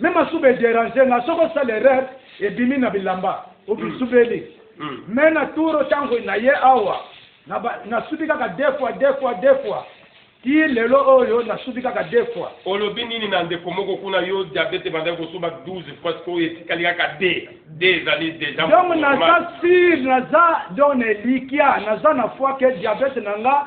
Mais masuba e deranger nga soki osali erreur ebimi na bilamba obisubeli mais na tour tango na ye awa na subi kaka deux fois deux fois deux fois ti lelo oyo na subi kaka deux fois. Olobi nini na ndeko moko kuna yo diabete ebandaki kosuba 12 fois sikoyo etikali kaka deux deux ezali dejà donc naza sur naza donc na elikia naza na foi que diabete na nga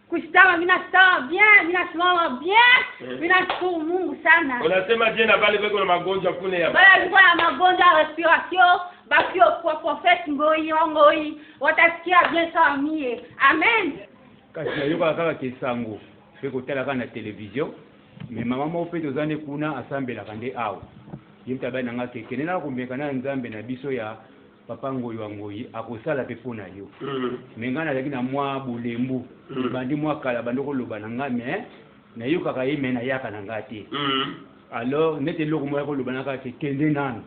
Kushtama mina stama bien, mina simama bien, eh. mina shukuru Mungu sana. Unasema je na bale beko na magonjwa kune ya. Bale beko na magonjwa ya respiration, bakio kwa prophet ngoi ngoi, watasikia bien sawa mie. Amen. Kasi nayoka kaka kesango, pe kotala kaka na television, mais mama moko pe toza nde kuna asambelaka nde awa. Ye mpe abali na ngai kekende na komeka na nzambe na biso ya Papa Ngoyi wa Ngoyi akosala pe po na yo mais nga nazalaki na mwa bolembu ebandi mwa kala abandi koloba na nga mais nayokaka ye mais nayaka na nga te alors neti eloko moko ayaki koloba na nga ke kende nanu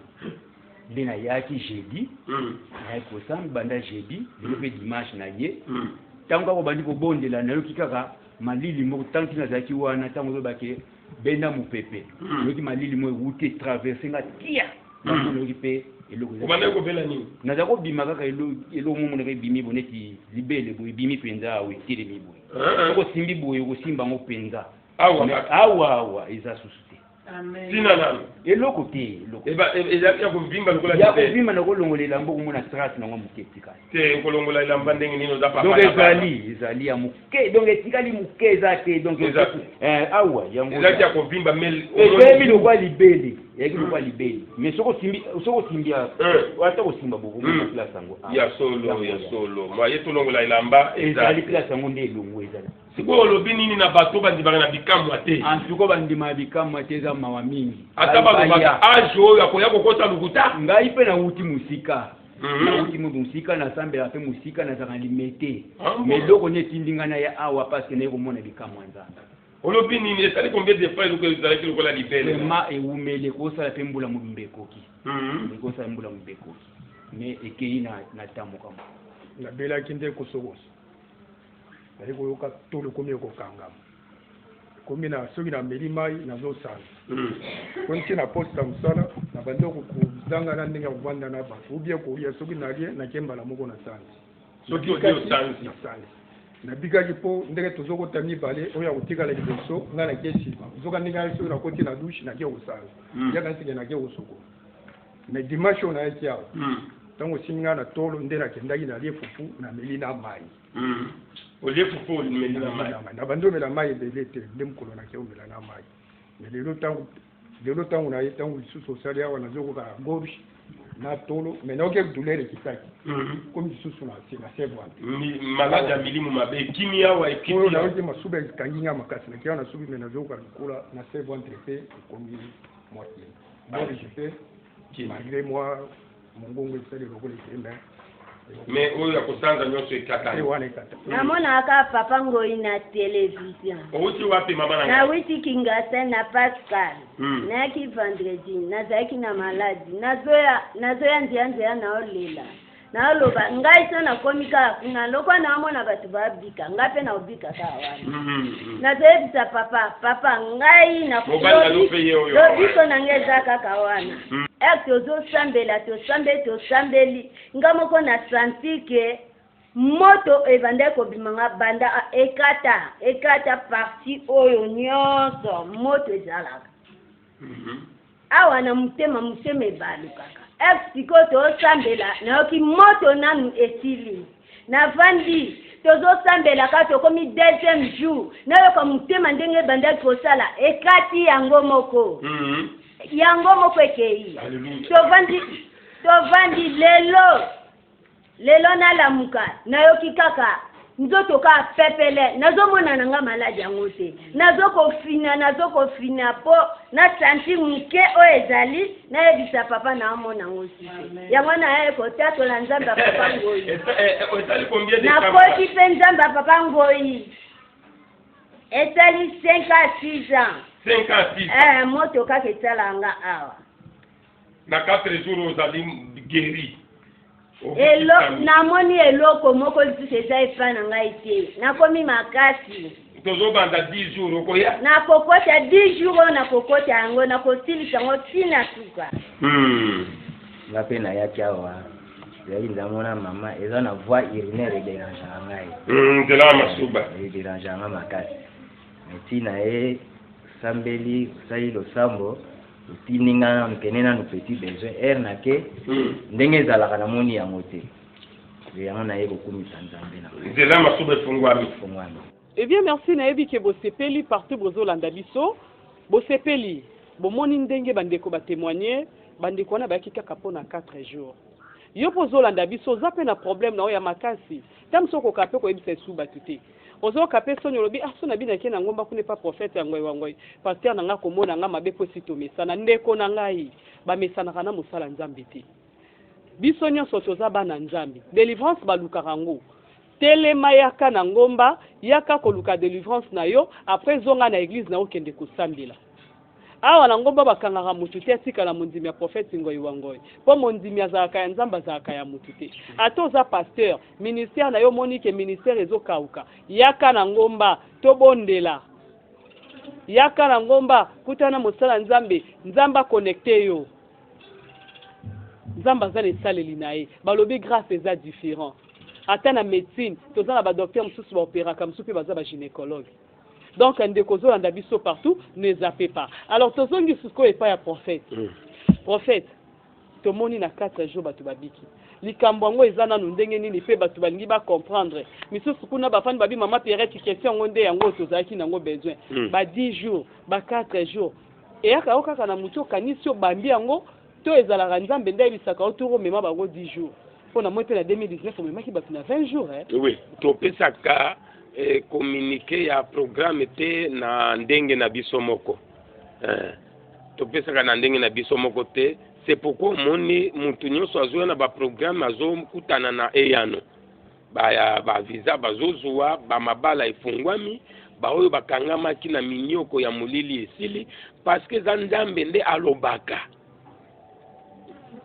nde nayaki jeudi nayaki kosamba banda jeudi lelo pe dimanche naye tango kaka obandi kobondela nayoki kaka malili moko tangu ti nazalaki wana tango oloba ke benda mupepe hmm. oyoki malili mo ewuti etraverse nga tia hmm. yango nayoki mpe elokobandaki kobela nini naza kobima kaka eloko mo monaka ebimi bo neti libele boye ebimi mpenza awa etelemi boye eh, eh. osimbi boye okosimba yango mpenza awa awa eza susu te ntina nano eloko te eloko ezalaki ya kovimba lokola ya kovimba nakolongola elambo okomona trace nango moke etikali te okolongola elamba ndenge nini oza papa donc ezali ezali ya moke donc etikali moke eza te donc eh, awa yango ezalaki ya kovimba mezemi lokwa libele eyaki lokwa hmm. libele mais soki osimbi soki osimbi hmm. ata kosimba bokoki hmm. place yango ah, ya solo ya solo maye tolongola elamba ezali place yango nde elongo ezali sikoyo olobi nini na bato bandimaka na bikamwa te antuko bandima na bikamwa te eza mawa mingi ata balobaka age oyo akoya kokota lokuta ngai mpe nawuti mosika Mhm. nauti moto mosika nasambelaka mpe mosika nazalaka na limete ah, ma eloko nini etindi ngai naya awa parceke naye komona likamwa nzambe olobi nini esali combien de fois eloko ezalaki lokola libele vraimen ewumeli ekosala mpe mbula mobimba ekoki mhm. ekosala mbula mobimba ekoki mais ekei na tamoka mo nabelaki nde kosokoso nayei koyoka tolo komi ekokangama komi na soki na meli mai nazo sala ko ntie na poste ya mosala na bandi kozanga na ndenge ya kovanda na bato ubie koya soki nalie nake mbala moko na sanzi soki osanzi nabikaki mpo ndenge tozokota mibale oyo akotikala liboso ngai nake nsima zoka ndenge aye soki nakoti na dushe nake kosala hmm. yaka nsike nake kosokola mais dimanche oyo nayaki awa ntango hmm. osimbi ngai na tolo nde nakendaki nalie fufu na meli na mai Hmm. olie fufu omeli na mai na bandi omela mai ebele te nde mokolo nake omela na mai me lelo ntango lelo ntango na ye ntango lisusu osali awa nazokoka gorge na tolo me nayoki douleur ekitaki hmm. komi lisusu na se na seve wana maladi ya milimu mabe ekimi awa ekimi nayoki masuba ekangi nga makasi nake awa nasubi me nazokoka lokola na seve entre mpe ekomi moitié gorge mpe malgré moi Mongongo esali lokola ekenda. Mais oyo ya kosanza nyonso ekatani. Eh, wana ekata. Namonaka papa ngoi na television. Owuti wapi mama na ngai? witi Kingasa na Pascal. Hmm. Nayaki vendredi, nazalaki na maladi. Nazoya nazoya nzianziya naolela. Naoloba ngai so nakomi kaka kuna lokola naomona bato babi kobika ngai mpe nakobika kaka wana mm, mm, mm. nazoyebisa papa papa ngai lobiko na ngai eza kaka wana ere tozosambela tosambeli tosambeli ngai moko na santi ke moto ebandaki kobima nga banda ekata ekata parti oyo nyonso moto ezalaka awa na motema motema ebalukaka ex sikoyo tozosambela nayoki moto nanu esili navandi tozosambelaka tokomi deuxième jour nayoka motema ndenge ebandaki kosala ekati yango moko mm -hmm. yango moko ekei tovandi tovandi lelo Lelo nalamuka nayoki kaka nzoto ka pepele nazo mona na nga malade yango te nazo kofina nazo kofina po na santi muke oyo ezali nayebisa papa na amona yango site yango naye kotatola nzambe ya papa ngoyi eh, nakoti mpe nzambe ya papa ngoyi esali 5 a 6 ans eh, moto kaka etalanga awa na 4 jours ozali guéri elo namoni eloko moko lisusu eza epai na ngai te nakomi makasi tozobanda 10 jours okoya nakokota 10 jours oyo nakokota yango nakosilisa yango ntina suka hmm. nga mpe nayaki awa ezali nzambo na mama eza na voix urinaire ederangaka ngai hmm, nzela ya masuba eh, ederangaka ngai makasi ntina ye osambeli osali losambo etindi nga nanu kende nanu petit besoin heure na ke hmm. ndenge ezalaka namoni yango te yango naye kokumisa nzambe na nzela masuba efungwami efungwami eh bien merci nayebi ke bosepeli partout bozolanda biso bosepeli bomoni ndenge bandeko batemoigne bandeko wana bayaki kaka mpo na 4 jours yo mpo ozolanda biso oza mpe na problème na oyo ya makasi ntango mosusu okokaa mpe koyebisa esu bato te Ozo yoka pe soni olobi ah soni abinaki na ngomba kuna epa prophète ya ngoy wa ngoy pasteur na nga ako mona nga mabe po esi tomesana ndeko na ngai ba mesanaka na mosala nzambe te biso nionso toza bana nzambe delivrance ba lukaka ngo telema yaka na ngomba yaka koluka delivrance na yo après zonga na eglise na yo kende kosambela Awa na ngomba bakangaka mutu te atikala mondimi ya prophète ngoyi wa ngoyi po mondimi azalaka ya nzambe azalaka ya mutu te ata oza pasteur ministère nayo omoni ke ministère ezo kauka yaka na ngomba tobondela yaka na ngomba kutana na mosala nzambe nzambe aconnecte yo nzambe aza na esaleli na ye balobi grace eza différent ata na médecine toza na badocteur mosusu baoperaka mosusu mpe baza bagynécologue donc ndeko ozolanda biso partout ne zappe pas alors tozongi sikoyo epai ya prophète mm. prophète tomoni na 4 jours bato babiki likambo yango eza nanu ndenge nini mpe bato balingi bacomprendre misusu kuna bafani babi mama pierrette question yango nde yango tozalaki nango besoin mm. ba 10 jours ba 4 jours eyaka yo kaka na moto okanisi obambi yango To ezalaka nzambe nde ayebisaka yo tour omema bango 10 jours po na moi pe na 2019 omemaki bato na 20 jours eh? Oui, topesaka eh, communique ya programme te na ndenge na biso moko eh, topesaka na ndenge na biso moko te c'est pourquoi omoni moto nyonso azoya na baprogramme azokutana na eyano baya ba visa bazozua, bamabala efungwami, baoyo bakangamaki na minyoko ya molili esili, paske eza Nzambe nde alobaka.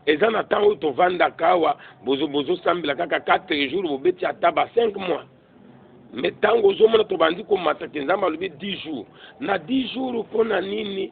eza na temps oyo tovandaka awa bozosambela bozo kaka 4 jours bobeti ata ba 5 mois me ntango ozomona tobandi komata ke nzambe alobi 10 jours na 10 jours mpo na nini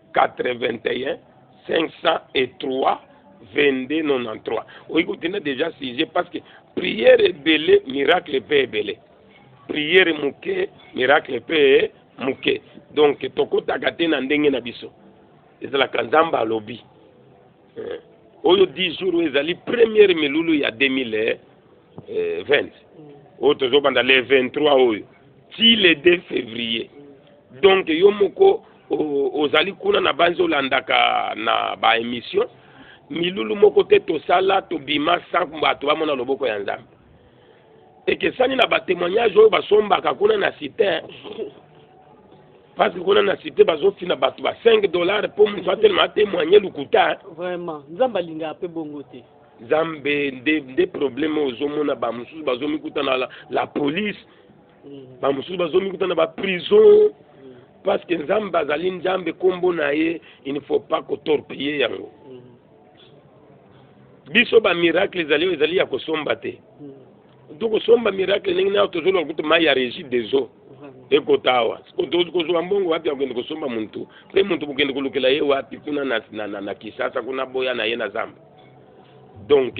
81 503 22 93 oyi kotinda deja sujet parce que prière ebele miracle mpe ebele prière moke miracle mpe moke donc tokotaka te na ndenge na biso ezalaka nzambe alobi eh, oyo 10 jours oyo ezali première milulu ya 2020 eh, mm. oyo tozobanda le 23 oyo ti le 2 février donc yo moko ozali kuna na banzi olandaka na baémission milulu moko te tosala tobima sans bato bamona loboko ya nzambe ekesani na batémoignage oyo basombaka kuna na site parce que kuna na cité bazofina bato ba 5 dollars mpo moto atelema atemoigne lokuta vraiment nzambe alingaka mpe bongo te nzambe nde nde probleme ozomona bamosusu bazomikuta na la, la police mm. bamosusu bazomikuta na baprison mm. parce que nzambe azali nzambe nkombo na ye il ne faut pas kotorpille yango mm. biso bamiracle ezali oyo ezali ya kosomba te tokosomba miracle ndenge nayo tozoloka kutu mai ya regi des eaux ekota awa kozwa mbongo wapi ya kokende kosomba muntu mpe muntu kokende kolukela ye wapi kuna na, na, na, na kisasa kuna boya na ye na zamba donc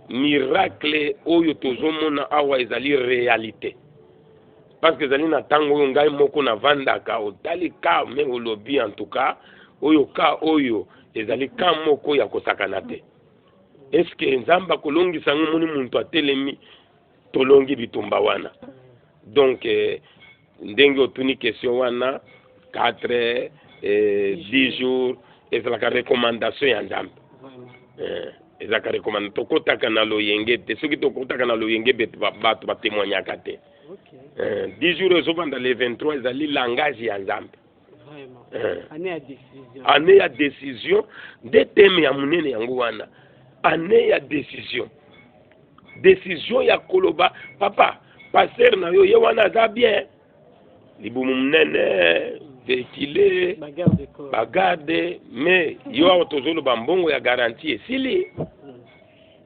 miracle oyo tozomona awa ezali realite parce que ezali na ntango oyo ngai moko navandaka otali ka me olobi en tout cas oyo ka oyo ezali ka moko ya kosakana te eske nzambe akolongisa yango moni muntu atelemi tolongi bitumba wana donc eh, ndenge otuni question wana 4 eh, 10 jours ezalaka recommandation ya nzambe eh, ezalaka recommandation tokotaka na loyenge te soki tokotaka na loyenge bato batemoignaka te okay. eh, 10 jours ezovanda le 23 ezali langage ya nzambe eh. année ya décision nde teme ya monene yango wana année ya décision décision ya koloba papa pasteur na yo ye wana aza bien libumu monene vehicule bagarde mais yo awa tozoloba mbongo ya garantie esili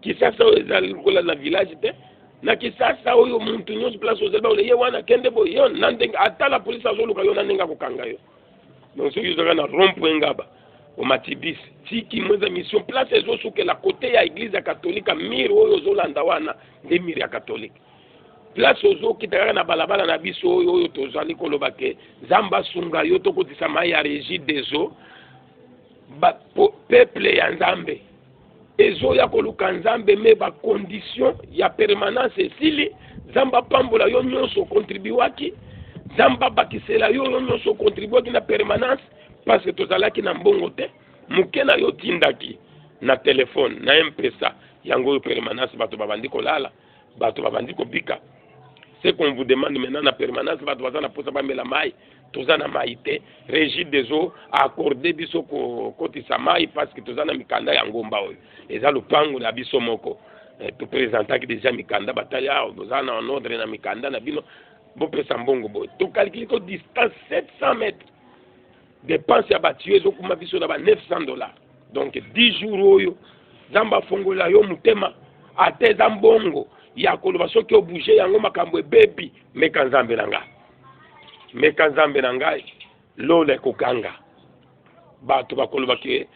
kisasa oyo ezali lokola na village te na kisasa oyo muntu nyonso place ozali baona ye wana kende boye yo na ndenge ata la polisi azoluka yo na ndenge akokanga yo donc soki ozalaka na rond point ngaba omati bis tiki mweza mission place ezosukela kote ya eglise ya katolika mire oyo ozolanda wana nde mire ya katolika place ozokita kaka na balabala na biso oyo oyo tozali koloba ke nzambe asunga yo tokotisa mai ya regi des eaux peuple ya nzambe ezoya koluka nzambe me ba condition ya permanence esili nzambe apambola yo nyonso okontribuaki nzambe abakisela yo yo nyonso okontribuaki na permanence parce que tozalaki na mbongo te moke na yo otindaki na telefone na mpesa yango oyo permanence bato babandi kolala bato babandi kobika ce qu'on vous demande maintenant na permanence bato baza na mposa bamela mai toza na mai te régie des eaux accorde biso kokotisa mai parce que toza na mikanda ya ngomba oyo eza lopango na biso moko eh, topresentaki deja mikanda batali awa ah, boza na ordre na mikanda na bino bopesa mbongo boye tokalkili ko distance 700 mètres Depense ya ba tuyaux ezokuma biso na ba 900 dollars. Donc 10 jours oyo Nzambe afongola yo motema ata eza mbongo ya koloba soki obouge yango makambo ebebi meka Nzambe na ngai. Meka Nzambe na ngai lola ekokanga. Bato bakoloba ke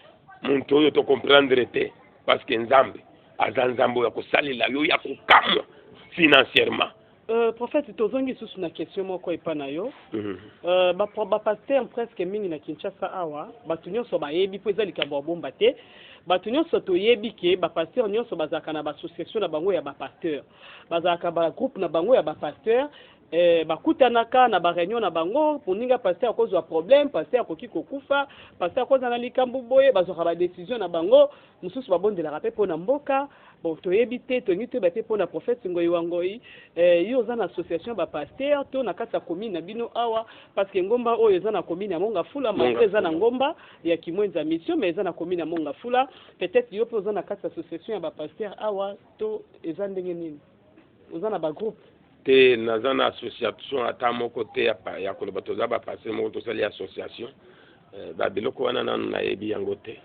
moto oyo to comprendre te parce que Nzambe aza Nzambe oyo akosalela yo ya kokamwa financièrement. Euh, prophète tozongi lisusu na question moko epa na yo mhm. euh, bapasteur ba presque mingi na kinshasa awa bato nyonso bayebi mpo eza likambo ya bomba te bato nyonso toyebi ke bapasteur nyonso bazalaka na baassociation na bango ya bapasteur bazalaka bagroupe na bango ya bapasteur eh, bakutanaka na bareunion na bango moninga pasteur akozwa problème pasteur akoki kokufa pasteur akozala na likambo boye bazwaka badesizio na bango mosusu babondelaka mpe mpo na mboka Bon toyebi te tolingi toyeba pe pona prophète ngoyi wa ngoyi eh, yo oza na association ba pasteur to na kati ya commune na bino awa parce que ngomba oyo eza na commune ya monga fula malgré eza na ngomba ya kimwenza mission mais eza na commune ya monga fula peut-être yo pe oza na kati ya association ya ba pasteur awa to eza ndenge nini oza na ba groupe te naza na association ata moko te ya, ya koloba toza ba pasteur moko tosali association Eh, ba biloko wana nanu nayebi yango te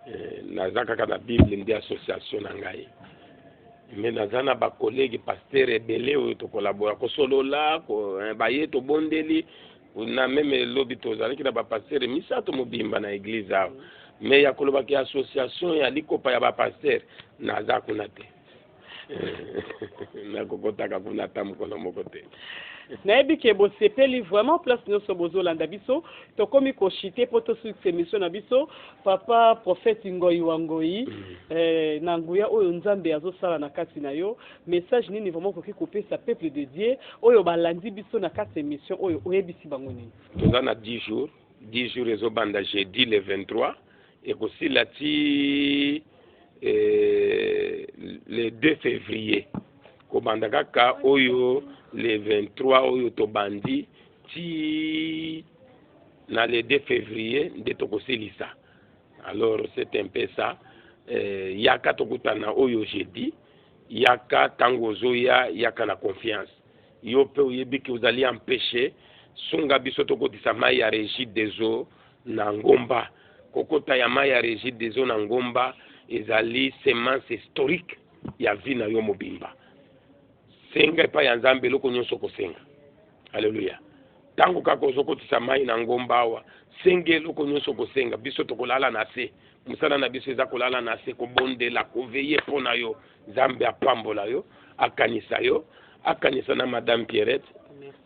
eh, naza kaka na bible nde association na ngai me naza na bakolege paster ebele oyo tokolabora kosolola ko, eh, baye tobondeli na meme lobi tozalaki na bapaster misato mobimba na eglise awa me ya kolobaki association ya likopa ya bapaster naza kuna te nakokotaka kuna ata mokolo moko te nayebi ke bosepeli vraiment place nyonso bozolanda biso tokomi koshite mpo tosilisa emission na biso papa prophète ngoi wa ngoi mm. eh, na nguya oyo nzambe azosala na kati na yo message nini vraiment okoki kopesa peuple de dieu oyo balandi biso na kati ya emission oyo oyebisi bango nini toza na 10 jours 10 jours ezo banda jeudi le 23 ekosila ti eh, le 2 février kobanda kaka oyo le 23 oyo tobandi ti na le 2 février nde tokosilisa alors c'est un peu ça eh, yaka tokutana oyo jeudi yaka ntango ozoya yaka na confiance Yo pe oyebi que ozali empeche, sunga biso tokotisa mayi ya regie des eaux na ngomba. Kokota ya mayi ya regie des eaux na ngomba ezali semence historique ya vie na yo mobimba. Senga epai ya Nzambe eloko nyonso okosenga. Alleluia. Tango kaka ozokotisa mayi na ngomba awa, senga eloko nyonso okosenga. Biso tokolala na se. Mosala na biso eza kolala na se, kobondela, koveye po na yo. Nzambe apambola yo, akanisa yo, akanisa na Madame Pierrette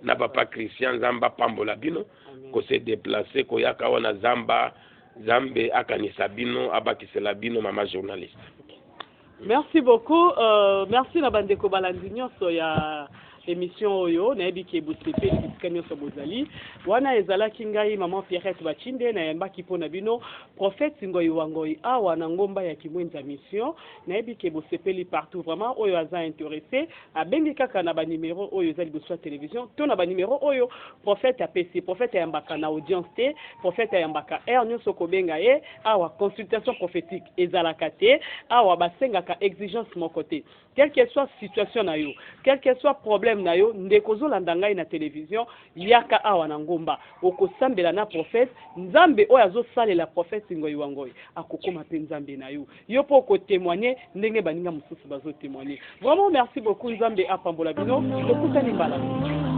na Papa Christian. Nzambe apambola bino ko se déplacer koyaka wana zamba. Nzambe akanisa bino, abakisela bino mama journaliste. Merci beaucoup, euh, merci na bandeko balandi nyonso ya emission oyo nayebi ke bosepeli bisika nyonso bozali wana ezalaki ngai maman pierrette bachinde nayambaki mpo na bino prophète ngoi wa ngoi awa na ngomba ya kimwenza mission nayebi ke bosepeli partout vraiment oyo aza interesse abengi kaka na banimero oyo eza liboso ya television to na banimero oyo prophète apesi prophète ayambaka na audience te prophète ayambaka heure nyonso kobenga ye awa consultation prophétique ezalaka te awa basengaka exigence moko te Quel que soit situation na yo, quel que soit problème na yo, ndeko ozolanda ngai na television, yaka awa na ngomba, okosambela na prophète, Nzambe oyo azosalela prophète Ngoy wa Ngoy akokoma pe Nzambe na yo, yo pe oko temoigner ndenge baninga mosusu bazo temoigner. Vraiment merci beaucoup, Nzambe apambola bino, tokutani mbala mosusu.